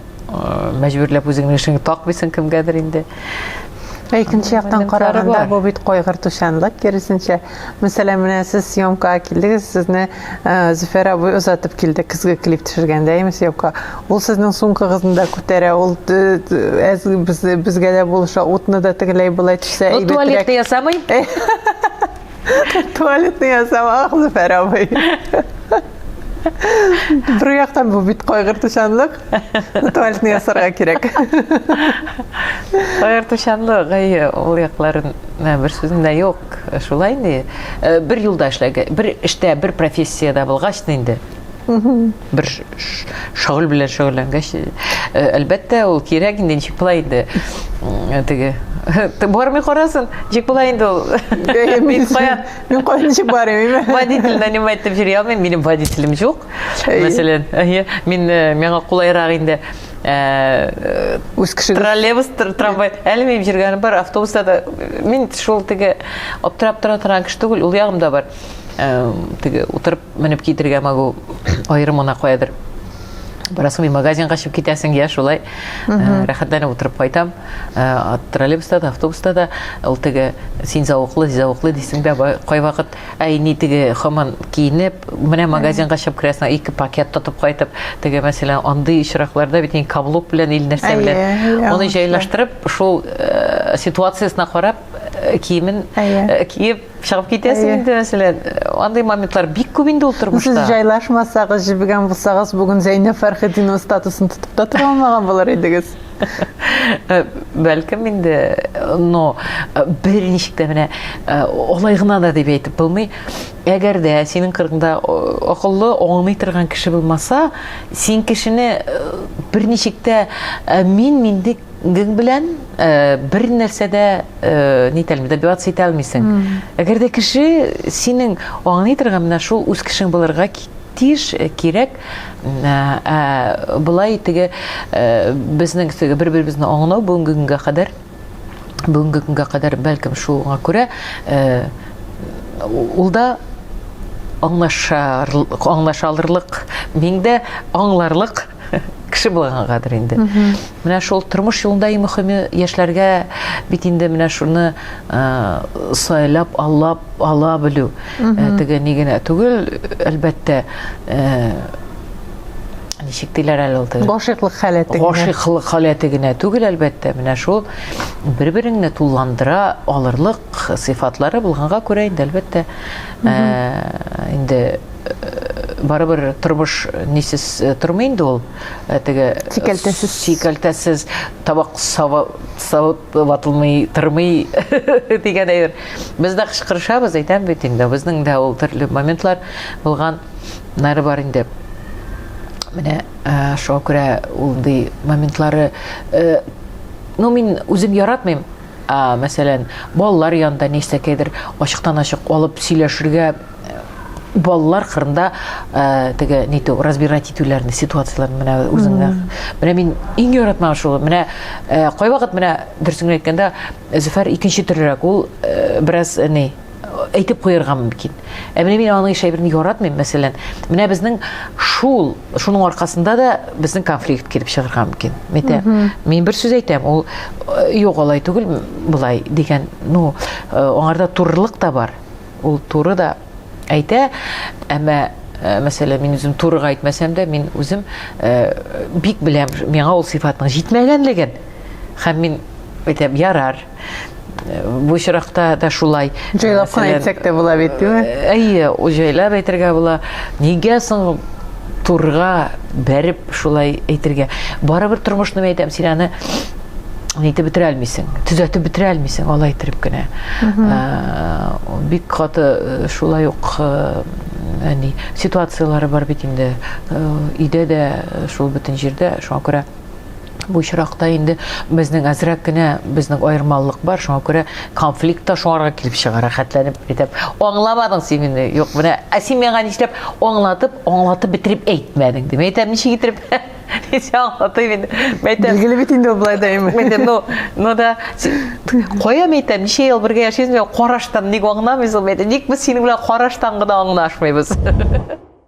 мәҗбүрләп үзеңнең эшеңне такмыйсың кемгәдер инде ә икенче яктан караганда бу бит кайгыртучанлык киресенчә Мәсәлән, менә сез съемкага килдегез, сезне э, Зөфәр абый озатып килде көзге клип төшергәндә, әйме съемка. Ул сезнең сумкагызны да күтәрә, ул әз без, безгә дә булыша, утны да тегеләй былай төшсә әйбәтрәк. Ул туалетны ясамый? Туалетны ясамак, Зөфәр абый. Бер яктан бу бит кайгыртучанлык, туалетны ясарга кирәк. Кайгыртучанлык, әйе, ул якларын бер сүзендә юк. Шулай инде. Э, бер юлда эшләгә, бер эштә, бер профессиядә булгач инде. Бер шөгыль белән шөгыльләнгәч, э, әлбәттә, ул кирәк инде, ничек була инде. Э, теге Ты бармый карасын, ничек була инде ул? Мин каян? Мин каян ничек бармыйм? Водитель нанимать дип йөри алмыйм, минем водителем юк. Мәсәлән, мин миңа кулайрак инде. Э, үз кешегез троллейбус трамвай әле минем жүргәнем бар автобуста да мин шул теге аптырап тора торган кеше түгел ул ягым да бар э, теге утырып менеп китергә могу аерым гына каядыр барасың магазин качып китәсең я шулай э, рәхәтләнеп утырып кайтам троллейбуста да автобуста да ул теге син зауыклы зауыклы дисең дә кайвакыт Ә инде теге хаман киенеп, менә магазинга чыгып керәсең, ике пакет тотып кайтып, теге мәсәлән, андый очракларда бит инде каблук белән ил нәрсә белән. Аны җайлаштырып, шул э, ситуациясенә карап, э, киемен э, киеп чыгып китәсең инде мәсәлән. Андый моментлар бик күп инде ул тормышта. Сез җайлашмасагыз, җибегән булсагыз, бүген Зәйнәб Фәрхетдинова статусын тотып та тора алмаган булыр идегез. Э, бәлкем инде но э, бер ничек тә менә э, алай гына да дип әйтеп булмый әгәр дә синең кырыңда акыллы аңлый торган кеше булмаса син кешене бер ничек тә мин миндек белән бер нәрсә дә нитәлми добиваться итә алмыйсың әгәр дә кеше синең аңлый торган менә шул үз кешең булырга тиеш кирәк Ә болай теге безнең теге бер-беребезне аңлау бүгенге көнгә кадәр бүгенге көнгә кадәр бәлкем шуңа күрә ул да аңлашар аңлаша алырлык мин дә аңларлык кеше булгангадыр инде Менә шул тормыш юлында иң мөхиме яшьләргә бит инде менә шуны сайлап алып ала белү. Теге ни генә түгел, әлбәттә, ничек диләр әле ул теге гашыйклык халәте гашыйклык халәте генә түгел әлбәттә менә шул бер береңне тулландыра алырлык сыйфатлары булганга күрә инде әлбәттә инде барыбер тормыш нисез тормый инде ул Э, теге э, сикәлтәсез сикәлтәсез табак савып савып ватылмый тормый дигән әйбер без дә кычкырышабыз әйтәм бит инде безнең дә ул төрле моментлар булган нәре бар инде менә э, шуңа күрә ул ди моментлары ну мин үзем яратмыйм Ә, мәсәлән, балалар янында нәрсәкәдер ачыктан-ачык алып сөйләшергә э, балалар кырында ә, э, теге ниту разбирать итүләрне ситуацияләрне менә үзеңә менә мин иң яратмаган шул менә ә, э, кайвакыт менә дөресен әйткәндә зөфәр икенче төрерәк ул ә, бераз ни әйтеп куярга мөмкин. Ә менә мин аның еш әйберен яратмыйм, мәсәлән, менә безнең шул, шуның аркасында да безнең конфликт килеп чыгарга мөмкин. Мәтә, мин бер сүз әйтәм, ул э, юк алай түгел, былай дигән, ну, э, аңарда турылык та бар. Ул туры да әйтә, әмма э, мәсәлән, мин үзем турыга әйтмәсәм дә, мин үзем бик беләм, миңа ул сыйфатның җитмәгәнлеген. Һәм мин әйтәм, ярар, Бу очракта да шулай. Җайлап кына әйтсәк тә була бит, димме? Әйе, җайлап әйтергә була. Нигә соң турга бәреп шулай әйтергә? Барыбер тормышны әйтәм, син аны әйтеп бетерә алмыйсың, төзәтеп бетерә алмыйсың, алай итеп кенә. Бик каты шулай ук әни ситуацияләре бар бит инде. Өйдә дә шул бөтен җирдә, шуңа күрә Бу очракта инде безнең әзрәк кенә безнең аермалылык бар, шуңа күрә конфликт та шуңарга килеп чыга, рәхәтләнеп әйтәм. Аңламадың син мине, юк, менә, ә син миңа нишләп аңлатып, аңлатып бетереп әйтмәдең, дип әйтәм, ничек итеп? Ничек аңлатыйм инде? Мәйтәм. Билгеле бит инде ул болай да имеш. Мәйтәм, ну, ну да, кая мәйтәм, ничә ел бергә яшибез, мин караштан ник аңламыйсың, мәйтәм, ник без синең белән караштан гына аңлашмыйбыз?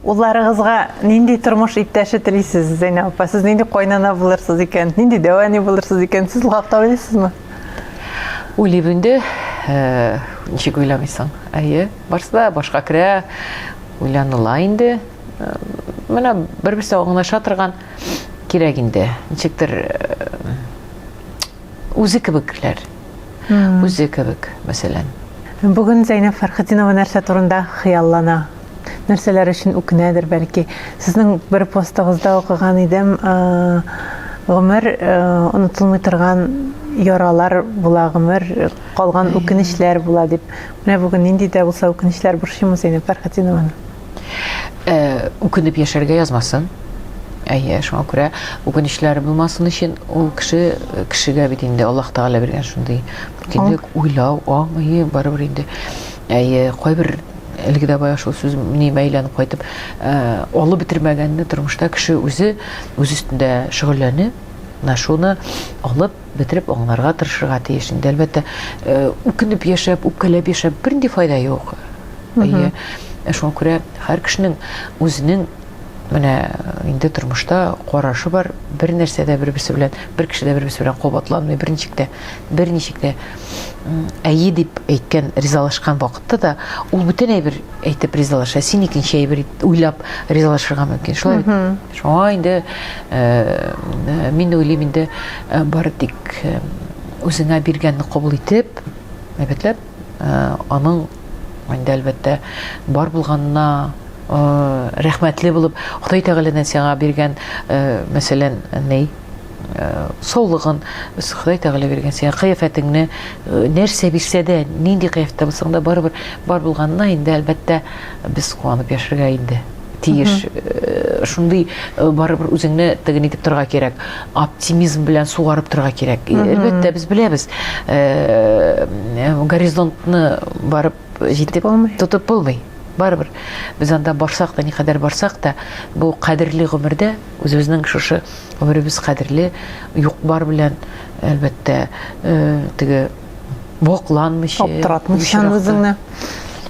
Улларыгызга нинди тормыш иптәше телисез, Зәйнә апа? Сез нинди кайнана булырсыз икән? Нинди дәвани булырсыз икән? Сез лакта уйлыйсызмы? Уйлыйм инде. Э, ничек уйламыйсың? Әйе, барсы да башка керә, уйланыла инде. Э, менә бер-берсе аңлаша торган кирәк инде. Ничектер э, үзе кебекләр. Үзе кебек, мәсәлән. Бүген Зәйнәб Фәрхетдинова нәрсә турында хыяллана? нәрсәләр өчен үкенәдер, бәлки. Сезнең бер постыгызда укыган идем, гомер онытылмый торган яралар була, гомер калган үкенечләр була дип. Менә бүген нинди дә булса үкенечләр борчыймы Зәйнәб Фәрхәтинованы? Үкенеп яшәргә язмасын. Әйе, шуңа күрә үкенечләр булмасын өчен ул кеше кешегә бит инде Аллаһ Тәгалә биргән шундый бөтенлек, уйлау, аңы, барыбер инде. Әйе, кайбер Әлеге дә бая шул сүз миемә әйләнеп кайтып, алып бетермәгәнне тормышта кеше үзе үз өстендә шөгыльләнү, менә шуны алып бетереп аңларга тырышырга тиеш. Инде әлбәттә, үкенеп яшәп, үпкәләп яшәп бернинди файда юк. Әйе. Шуңа күрә һәр кешенең үзенең менә э, инде тормышта карашы бар бер нәрсә дә бер берсе белән бер кеше дә бер берсе белән кабатланмый бер ничек тә бер ничек тә әйе дип әйткән, ризалашкан вакытта да ул бүтән әйбер әйтеп ризалаша, син икенче әйбер уйлап ризалашырга мөмкин. Шулай бит? Шуңа инде э, мин уйлыйм инде э, бары тик э, үзеңә биргәнне кабул итеп, әлбәттә, аның инде әлбәттә бар булганына рәхмәтле булып, Ходай Тәгаләдән сиңа биргән, мәсәлән, ней саулыгын Ходай Тәгалә биргән сиңа кыяфәтеңне нәрсә бирсә дә, нинди кыяфәттә булсаң да барыбер бар булганына инде әлбәттә без куанып яшәргә инде тиеш. Шундый барыбер үзеңне тыгын итеп торга кирәк. Оптимизм белән сугарып торга кирәк. Әлбәттә без беләбез. Горизонтны барып җитеп тотып булмый. Барыбер без анда барсак та, никадәр барсак та, бу кадерле гомердә үзебезнең шушы Гомеребез кадерле, юк-бар белән, әлбәттә, э, теге бокланмыйча, аптыратмыйчан үзеңне.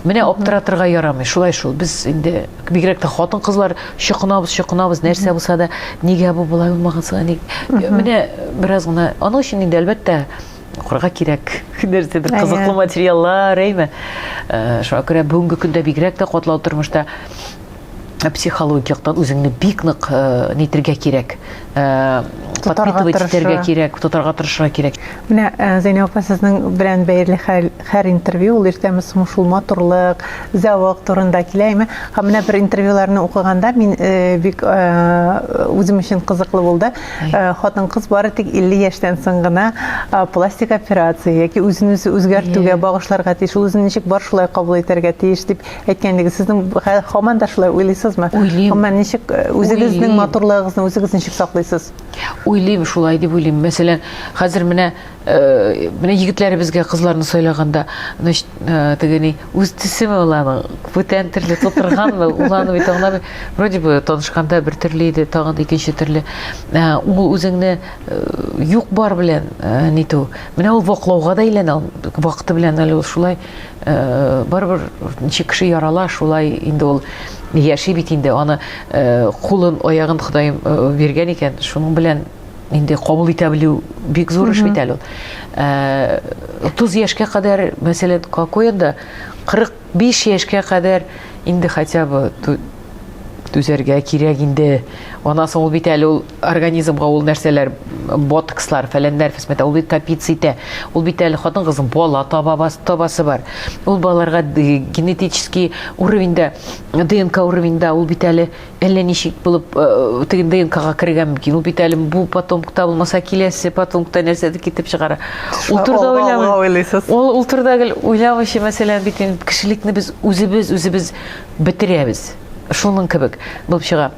Менә аптыратырга ярамый, шулай шул. Без инде бигрәк тә хатын-кызлар чокынабыз, чокынабыз, нәрсә булса да, нигә бу болай булмаганса, ник? Менә бераз гына, аның өчен инде әлбәттә укырга кирәк нәрсә бер кызыклы материаллар әйме э, шуңа күрә бүгенге көндә бигрәк тә катлау тормышта психологик яктан үзеңне бик нык э, нитергә кирәк э, подпитывать итәргә кирәк тотарга тырышырга кирәк менә э, зәйнәб апа сезнең белән бәйле һәр интервью ул иртәме соң шул матурлык зәвык турында килә әйме һәм менә бер интервьюларны укыганда мин бик үзем өчен кызыклы булды хатын кыз бары тик 50 яшьтән соң гына пластик операция яки үзен үзе үзгәртүгә багышларга тиеш ул үзен ничек бар шулай кабул итәргә тиеш дип әйткәндәге сезнең хаман да шулай уйлыйсызмы уйлыйм хаман ничек э, үзегезнең матурлыгыгызны үзегез ничек саклыйсыз уйлыйм шулай дип уйлыйм мәсәлән хәзер менә э, менә егетләребезгә кызларны сайлаганда значит э, тегени үз төсеме ул аның бүтән төрле тутырганмы ул аны бит аңламый вроде бы танышканда бер төрле иде тагын да икенче төрле ул үзеңне юк бар белән нитү менә ул ваклауга да әйләнә вакыты белән әле ул шулай барыбер ничек кеше ярала шулай инде ул яши бит инде аны кулын аягын ходаем биргән икән шуның белән инде кабул итә белү бик зур эш бит әле ул утыз яшькә кадәр мәсәлән какоенда кырык биш яшькә кадәр инде хотя бы түзәргә кирәк инде аннан соң ул бит әле ул организмга ул нәрсәләр ботокслар фәләннәр фәсмәтә ул бит капиц итә ул бит әле хатын кызның бала табабасы табасы бар ул балаларга генетический уровеньда днк уровеньда ул бит әле әллә ничек булып э, теге днкга кергән мөмкин ул бит әле бу потомкта булмаса киләсе потомкта нәрсәдер китеп чыгара ул турыда уйламый ул ул турыда гел уйламыйча мәсәлән бит кешелекне без үзебез үзебез бетерәбез шуның кебек булып чыга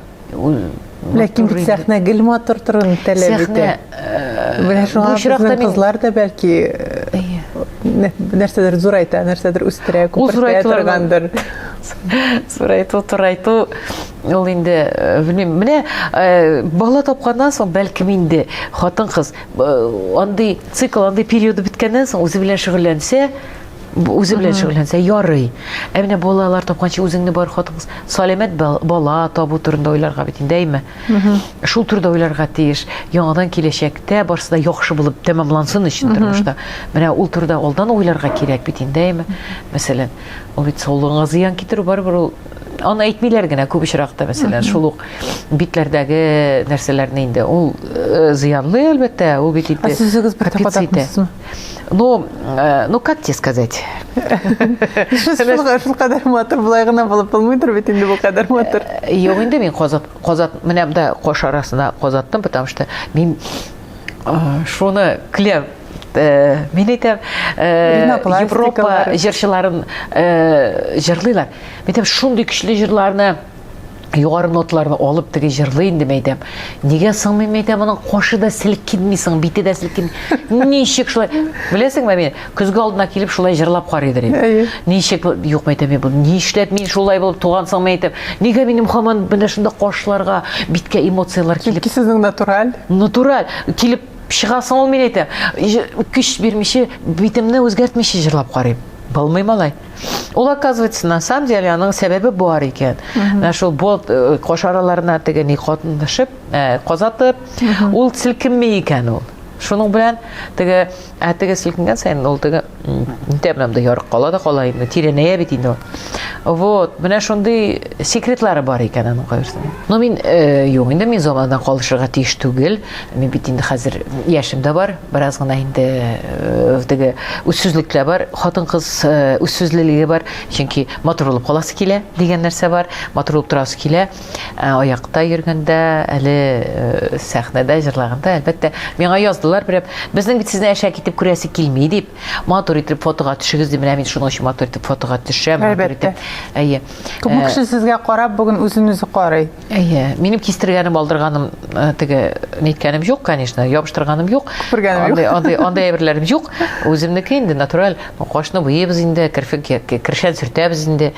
Ләкин бит сәхнә гел матур торуны таләп итә. Менә шуңа безнең кызлар да бәлки нәрсәдер зурайта, нәрсәдер үстерә, күпертә торгандыр. Зурайту, турайту ул инде, белмим, менә бала тапканнан соң бәлкем инде хатын-кыз андый цикл, андый периоды беткәннән соң үзе белән шөгыльләнсә, Үзе белән шөгыльләнсә ярый. Ә менә балалар тапканчы үзеңне бар хатын саламәт бала табу турында уйларга бит инде әйме. Шул турыда уйларга тиеш. Яңадан киләчәктә барсы да яхшы булып тәмамлансын өчен тормышта. Менә ул турыда алдан уйларга кирәк бит инде әйме. Мәсәлән, ул бит саулыгыңа зыян китерү барыбер ул аны әйтмиләр генә күп очракта мәсәлән шул ук битләрдәге нәрсәләрне инде ул э, зыянлы әлбәттә ул бит инде ә сүзегез бер тапатакмысыз Ну, э, ну как тебе сказать? Шул кадәр матур булай гына булып булмыйдыр бит инде бу кадәр матур. Э, юк инде мин казат казат менә монда кош арасына казаттым, потому что мин э, шуны клер мин әйтәм Европа җырчыларын җырлыйлар. Мин әйтәм шундый көчле җырларны Югары нотларны алып теге җырлый инде Мәйдәм. Нигә сыңмый Мәйдәм аның кашы да селкенми соң, бите дә селкенми. Ничек шулай? Беләсеңме мин көзге алдына килеп шулай җырлап карыйдыр инде. Ничек юк Мәйдәм бу? Нишләп мин шулай булып туган соң Мәйдәм? Нигә минем хаман менә шунда кашларга, биткә эмоцияләр килеп? Чөнки сезнең натураль. Натураль килеп чыгасың ул мин әйтәм. Көч бирмичә, битемне үзгәртмичә җырлап карыйм. Булмый малай. Ул оказывается, на самом деле, аның сәбәбе бар икән. Менә шул болт э, кош араларына теге ни катнашып, э, казатып, ул селкенми икән ул. Шуның белән теге ә теге селкенгән саен ул теге тәмләм дә ярык кала да кала инде, тирәнәя бит инде ул. Вот, менә шундый секретлары бар икән аның кайсының. Но мин э, юк инде мин замандан калышырга тиеш түгел. Мин бит инде хәзер яшем дә бар, бераз гына инде э, теге үзсүзлек тә бар, хатын-кыз э, үзсүзлелеге бар, чөнки матур булып каласы килә дигән нәрсә бар, матур булып торасы килә. Э, аякта йөргәндә, әле сәхнәдә җырлаганда, әлбәттә, миңа яздылар берәп, безнең бит сезне әшәк итеп күрәсе килми дип, матур итеп фотога төшегез дип, менә мин шуның өчен матур итеп фотога төшәм, матур итеп. Әйе. Күп кеше сезгә карап бүген үзен үзе карый. Әйе, минем кистергәнем, алдырганым, э, теге ниткәнем юк, конечно, ябыштырганым юк. Күпергәнем юк. Андый, андый, андый әйберләрем юк. Үземнеке инде натураль, ну, кашны буебыз инде, керфек, кершән сөртәбез инде.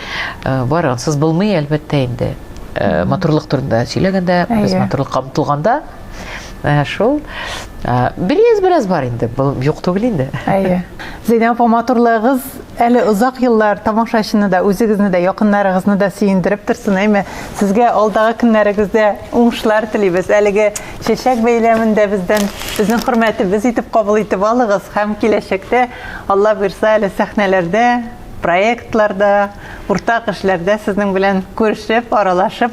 Э, бар, ансыз булмый, әлбәттә инде. Э, матурлык турында сөйләгәндә, без матурлыкка омтылганда, Ә шул бераз-бераз бар инде, был юк түгел инде. Әйе. Зәйнәб апа, матурлыгыз әле озак еллар тамашачыны да, үзегезне дә, якыннарыгызны да сөендереп торсын, әйме. Сезгә алдагы көннәрегездә уңышлар телибез. Әлеге чәчәк бәйләмендә бездән безнең хөрмәтебез итеп кабул итеп алыгыз һәм киләчәктә Алла бирса әле сәхнәләрдә проектларда, уртак эшләрдә сезнең белән күрешеп, аралашып